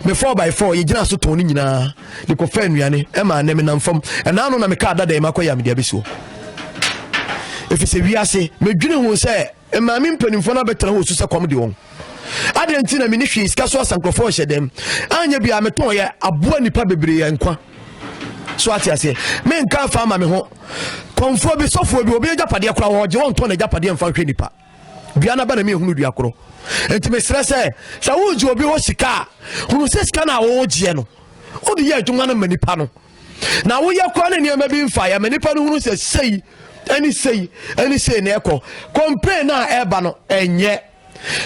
Me 4 by 4 yɛgyina so tɔn ne nyinaa de kɔfa nnuane ɛma anɛ menam fam ɛnaa no na meka adada yi makɔyɛ a mede abɛsi hɔ ɛfiri sɛ wiase medwene ho sɛ Maame mpanimfoɔ no abɛtena hɔ osu sɛ kɔm de wɔn. Adeɛ nti na mene hwee sika so asa nkurɔfoɔ hyɛ dɛm. Anyɛ bia metɔn yɛ aboa nipa bebree yɛ nkwa. So ate aseɛ. Menka afa ama me ho. Kɔmfoɔ bi sɔfoɔ bi obi agyapadeɛ koraa hɔ gye wɔn tɔn agyapadeɛ mfa nhwɛ nipa. Dua na ba na mehunu dua korɔ. Nti mesrɛ sɛ sɛ wogye obi hɔ sika a hunu sɛ sika no a wogyeɛ no wode yɛ adwuma no ma nipa no. na woyɛ kora ne nneɛma bi mfa yɛ ma nipa no hunu sɛ sei ɛne sei ɛne sei na ɛkɔ complain no a ɛreba no ɛnyɛ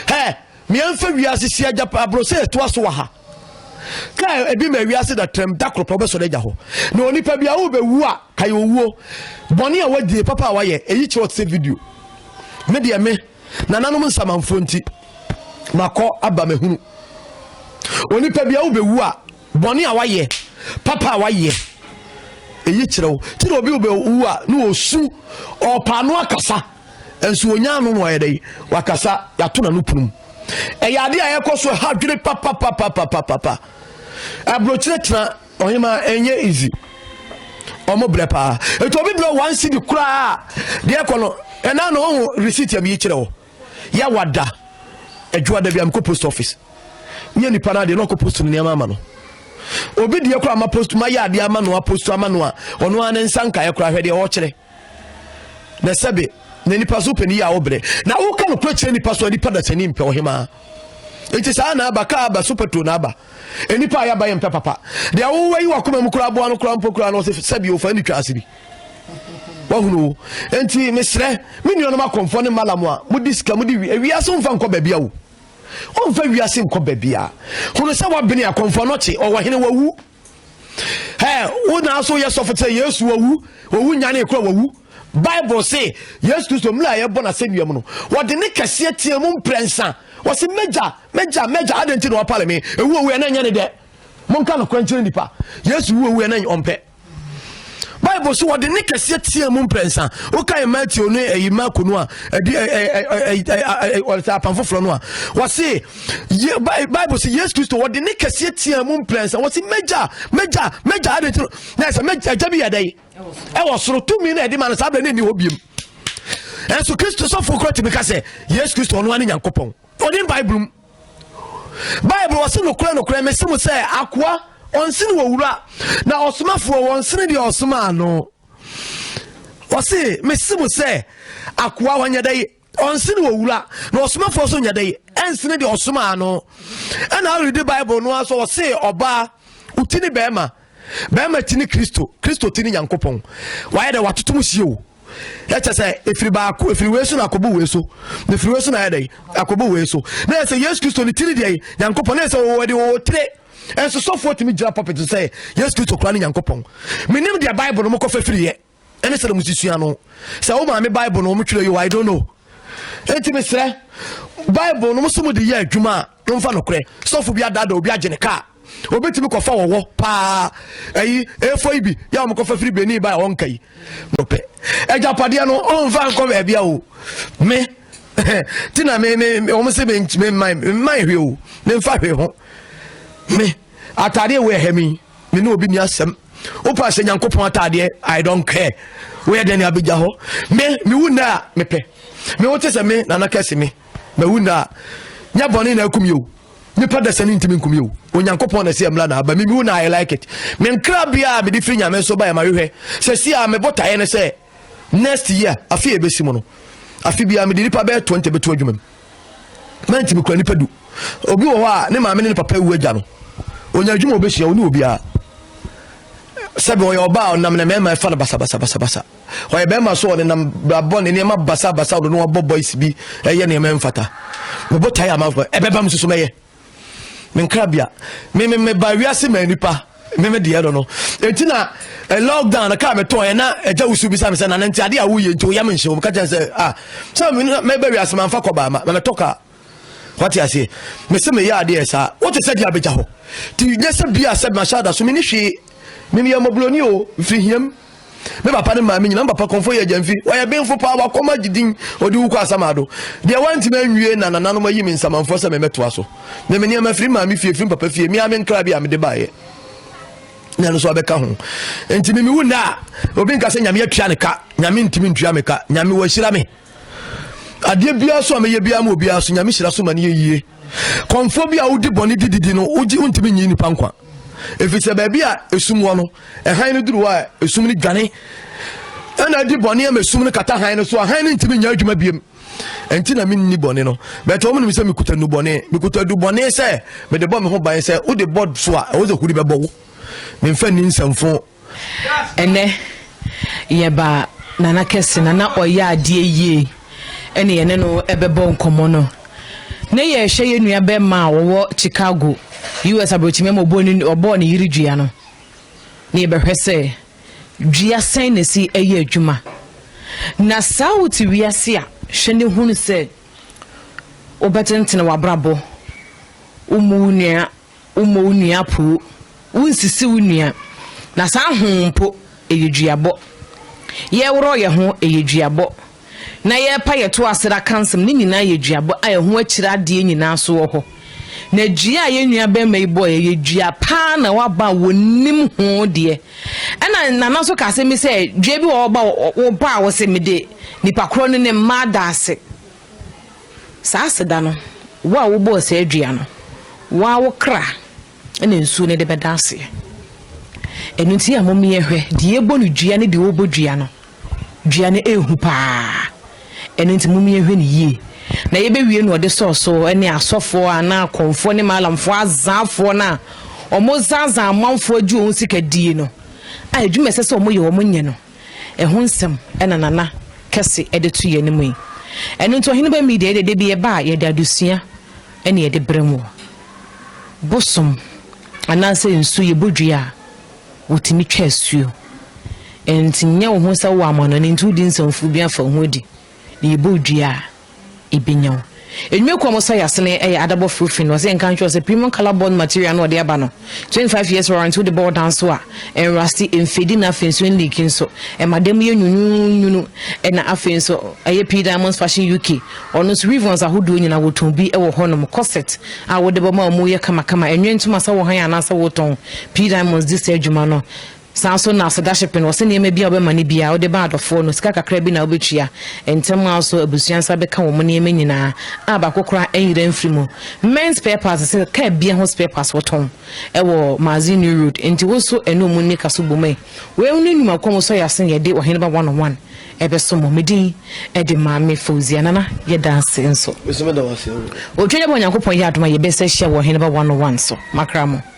ɛ mmeɛmfa wiase si agya aboro sɛ ɛtoa so wɔ ha kaa ebi ma wiase da tram da koropɔ bɛsɔre agya hɔ na onipa bi a wobɛwu a kae owuo bɔne a wadie papa a wayɛ ɛyi kyerɛ ɔte sɛ video me deɛ me nananom nsamanfoɔ nti makɔ aba mahunu onipa bi a wobɛwu a Bɔne a wayɛ, papa a wayɛ, eyi kyerɛ wo. Ti na obi bɛ wu a na osu, ɔpa ano akasa, nso onya ano na ɔyɛ dɛ wakasa, yato na no punum. Ɛyɛ ade a ɛkɔ so ha dwene papapapapapapa. Abrokyire tena ɔhema ɛnyɛ easy. Ɔmo brɛ paa. Etu obi brɛ one cedi koraa deɛ ɛkɔ no ɛna na ɔho receipt a bi kyerɛ wo. ya wada adwuma da bi a mekɔ post office nyɛ nipa no adeɛ na ɔkɔ post no nneɛma ama no obi deɛ koraa ma post ma yɛ adeɛ ama no apost ama no a ɔno ara ne nsa nkaeɛ koraa hwɛ deɛ ɔkyerɛ na sɛbe na nipa so pɛ ne yɛ a wobrɛ na woka no kora kyerɛ nipa so a nipa da sani mpɛ ɔhemaa nti saa na aba kaa aba sopɛto na aba nnipa a yɛaba yɛ mpɛ papa deɛ wowɔ yi wakoma mu koraa boa no koraa mpo koraa no sɛ sɛbi ofa ne twa ase bi wahunu nti mesrɛ me nuanom akɔmfoɔ ne malam a mode sika mode wiase mfa nkɔ baabi a wo ɔmfa wiase nkɔ baabi a hunu sɛ wabene akɔmfoɔ nɔkye ɔwɔ hene wawu ɛ wo naa so yɛ sɔfo sɛ yesu wawu wawu nyane kora wawu bible se yesu kristo mmerɛ a yɛbɔ no asɛnnua mu no wɔde ne kɛseɛ teɛ mu mprɛnsa wɔse mɛgya mɛgya mɛgya adɛn nti na wɔpale me ɛwu owu ɛna nyɛ ne dɛ monka nokorɛ nkyerɛ nnipa yesu wu owu ɛna ɔmpɛ bible so wɔde ne kɛseɛ teɛ mu mprɛnsa wokae matthew ne ayi marko no a ɔsɛ apam foforɔ no a wɔse bible sɛ yesu kristo wɔde ne kɛseɛ teɛ mu mprɛnsa wɔse mɛgya mɛgya mɛgya ade tino na ɛsɛ mɛgya agya bi yɛdɛ yi ɛwɔ soro tumi na ɛde ma no saa berɛ ne ɛni hɔ biom ɛnso kristo sɔfoɔ korɔ tumi ka sɛ yesu kristo ɔno ane nyankopɔn ɔde bible mu bible ɔse nokorɛ nokorɛ mese mo sɛ akoa ɔnsene wɔ wura na ɔsomafoɔ wɔnsene deɛ ɔsomaa no ɔse mese mo sɛ akoa ɔnyɛ dɛ yi ɔnsene wɔ wura na ɔsomafoɔ so nyɛ dɛ yi ɛnsene deɛ ɔsomaa no ɛna awurede bible no aso ɔse ɔbaa wotini bɛrima bɛrima ti ne kristo kristo ti ne nyankopɔn wayɛ dɛ watoto mu sie o ɛkyɛ sɛ ɛfiri baako ɛfiri wei so na akɔbu wei so na ɛfiri wei so na ɛdɛ akɔbu wei so na yɛ sɛ yesu kristo ne tiri deɛ nyankopɔn na yɛ sɛ wɔwɔ de wɔwɔ tire ɛnso sɔfoɔ tumi gyina pɔpɛt sɛ yesu kristo kora ne nyankopɔn menim deɛ bible no mokɔfa firiɛ ɛne sɛdeɛ mo susua no sɛ wo maame bible no wɔn twerɛ yio i don't know enti mesrɛ bible no mo so mo de yɛ adwuma a momfa nokorɛ sɔfo bi adada obi agye ne kaa obetumi kɔfa wɔwɔ paa ɛyi efo yi bi yɛ a wɔkɔfa firi benin ba a wɔnka yi no pɛ agyapadeɛ no ɔnfa nkɔ baabi a o me ti na me me wɔn sɛ me mman mman hwɛ o me nfa hwɛ ho me ataadeɛ wɔ ɛhɛ mi. me ne obi ni asɛm wopɛ ahyɛ nyankopɔn ataadeɛ i don't care woyɛ dɛn ne abɛgya hɔ me mewu nnɛ a mepɛ me wo te sɛ me nana kɛse me mawu nnɛ a nyɛ bɔne na akum yɛo nipa da sani ntumi nkum yɛo onyankopɔn na ɛsɛ mmra na aba me mewu na i like it menkra biaa mede firi nyame nso ba yɛ mahwehwɛ sɛ si a mebotaeɛ ne sɛ next year afe a ɛbɛsi mu no afe biara mede nipa bɛyɛ 20 bɛto adwuma mu mantimi kura nipa du obi wɔ hɔ a ne maame ne ne papa wu agya no ɔnya adwuma a ɔbɛsua ɔne obiara sɛbi ɔyɛ ɔbaa ɔnam na mmarima ɛfa no basabasabasabasa ɔyɛ bɛrima so ɔne nam brabɔ ne nneɛma basabasa ɔno no wabɔ boys bi ɛyɛ nneɛma mfata mebɔ tae ama ɛbɛba m soso mɛyɛ me nkrabea me me me ba wiase ma nipa me me deɛ no no eti na eh, lockdown na kaa me tɔn yɛ na ɛgya wusu bi sa me sɛ na nti ade a woyɛ nti woyɛ me nhyɛ wɔn ka kyɛn sɛ ah sɛ me me ba wiase ma nfa kɔ ba ma me tɔ kaa wate aseɛ me se me yɛ adeɛ saa wote sɛ deɛ abɛgya hɔ ti nyɛ sɛ bia sɛ mahyɛ ada so me ne hwee me me yɛ mɔbroni o mfiri hiam Me papa ne maame nyina, me papa kɔmfo yɛ Gyamfi. Ɔyɛ benfo paa, wakɔm agye din, ɔde wu kɔ Asamado. Deɛ wantumi anwie na nananom ayi me nsamanfoɔ sɛ memmɛtoa so. Me me nneɛma firi maame fie, firi papa fie, me ara me nkra bi a mede baeɛ na ɛno nso abɛka ho. Nti me mewu nnɛ a, obi nka sɛ Nyame atua ne ka, Nyame ntumi ntua me ka, Nyame wahyira me. adeɛ biara so a mɛyɛ biara ma obiara so nyame hyira so ma no yɛ yie kɔmfoɔ bi a wodi bɔne di didi no wogye wontumi nyi nipa nkwa ɛfiri sɛ baabi a ɛsum wɔ no ɛhan no duru hɔ a ɛsum no dwane ɛna adi bɔne ama ɛsum no kata han no so a han no ntumi nya adwuma biem ɛnti na menni bɔne no bɛtɛ wɔn nim sɛ mekuta nu bɔne mekuta du bɔne sɛ mede bɔ me ho ban sɛ wode bɔ so a ɛwɔ sɛ huri bɛbɔ wo memfa nni nsɛmfo Ɛnnɛ, yɛba Nana kɛse no a na ɔyɛ adeɛ yie ne yɛne no bɛbɔ nkɔmmɔ no. Na yɛrehwɛ yɛn nua bɛrima a ɔwɔ Chicago, US. aborɔkyimɛ ama ɔbɔɔ ne, ɔbɔɔ ne yere dua no. Na yɛbɛhwɛ sɛ dua sɛn na ɛsi ɛyɛ adwuma. Na saa wote wiase a, hwɛ ne hunu sɛ wobɛtentene w'abrabɔ. Wommu wo nua Wommɔ wo nua apoo, wonsisi wo nua, na saa ho mpo, ɛyɛ duabɔ. Yɛreworɔ yɛn ho, ɛyɛ duabɔ, na yɛrepa yɛn to ase da ka nsɛm, ne nyinaa yɛ duabɔ a ɛho akyiri adeɛ nyinaa nso wɔ hɔ. Na dua a yɛn nua barima yi bɔeɛ yɛ dua paa na waba a wɔnim ho deɛ. Ɛna Nana nso ka asɛm bi sɛ dua bi wɔ hɔ ba wɔ ba a wɔsɛ mede nipa korɔ ne ne mma ada ase. Saa aseda no, wo a wobɔɔ saa dua no, wo ara wo kra na nsuo no de bɛda aseɛ. Ɛno nti a momeɛhwɛ, deɛ ɛbɔ no dua ne deɛ ɔbɔ dua no, dua no ɛhu paa. Ɛno nti momeɛhwɛ no yie. Na yɛbɛwie no ɔde sɔɔsoɔ ne asɔfoɔ anaa akɔmfoɔ ne maalamfoɔ azaafoɔ no a wɔzazaa amanfoɔ agye wɔn sika die no a adwuma ɛsɛ sɛ wɔyɛ wɔn nyɛ no. Ɛho nsɛm na Nana kɛse de to yɛn anim yi. Ɛno nti Ɔheneba Media deɛ da bi yɛba a yɛde adesua na yɛde brɛ mu. Bosom anaasɛ nsu yɛbɔ dua a, wɔtumi twa asuo. Ɛnti nyɛ wo ho sɛ wowɔ amanɔne nti wodi nsɛmfuu bi afa wo ho adi. na yɛbɔ dua a, ɛbɛnya wo. Enwuma kuo a wɔsa yɛase no yɛ adabɔ foro fi no. Ɔsɛ yɛnka nkyerɛ wo sɛ premium color bond material no a ɔde aba no, 25 years warranty wode bɔ wo dan so a, ɛnrasti, ɛmfedi na afei nso ɛnliiki nso. Ɛma dan mu yɛ nwununwunu. Ɛna afei nso ɛyɛ P Diamonds Fashion UK. Ɔno nso ribbons ahodoɔ nyinaa wɔtɔn bi wɔ hɔnom. Corset a wode bɔ ma a emu yɛ kamakama. Ɛnwɛ ntoma sɛ wohan anaasɛ wotɔn, P Diamonds di saa adwuma no. Saa ara nso na Sedaship no, wɔse nneɛma biara a wobɛma no biara, wode ba adɔfoɔ no, sika kakra bi na wobɛtua. Ntɛm ara nso abusua nsa bɛka wɔn nneɛma nyinaa a baako koraa anyera amfiri mu. Mɛn Spare Parts se kaa biara ho spare parts wɔtɔn wɔ Maazi New Road, enti wo nso ɛne wɔn nni ka so bom ɛ. Wei nom ne nnwuma kɔm sɔ yɛ ase yɛde Ɔheneba One on One ɛbɛso mo. Me din de Maame Fauzia. Nana, yɛda ase nso. Me nso meda wo ase. Otwa dwa bɔ Onyankopɔn yɛ adom a yɛbɛsa hyia wɔ Ɔheneba One on One so. Makra mo.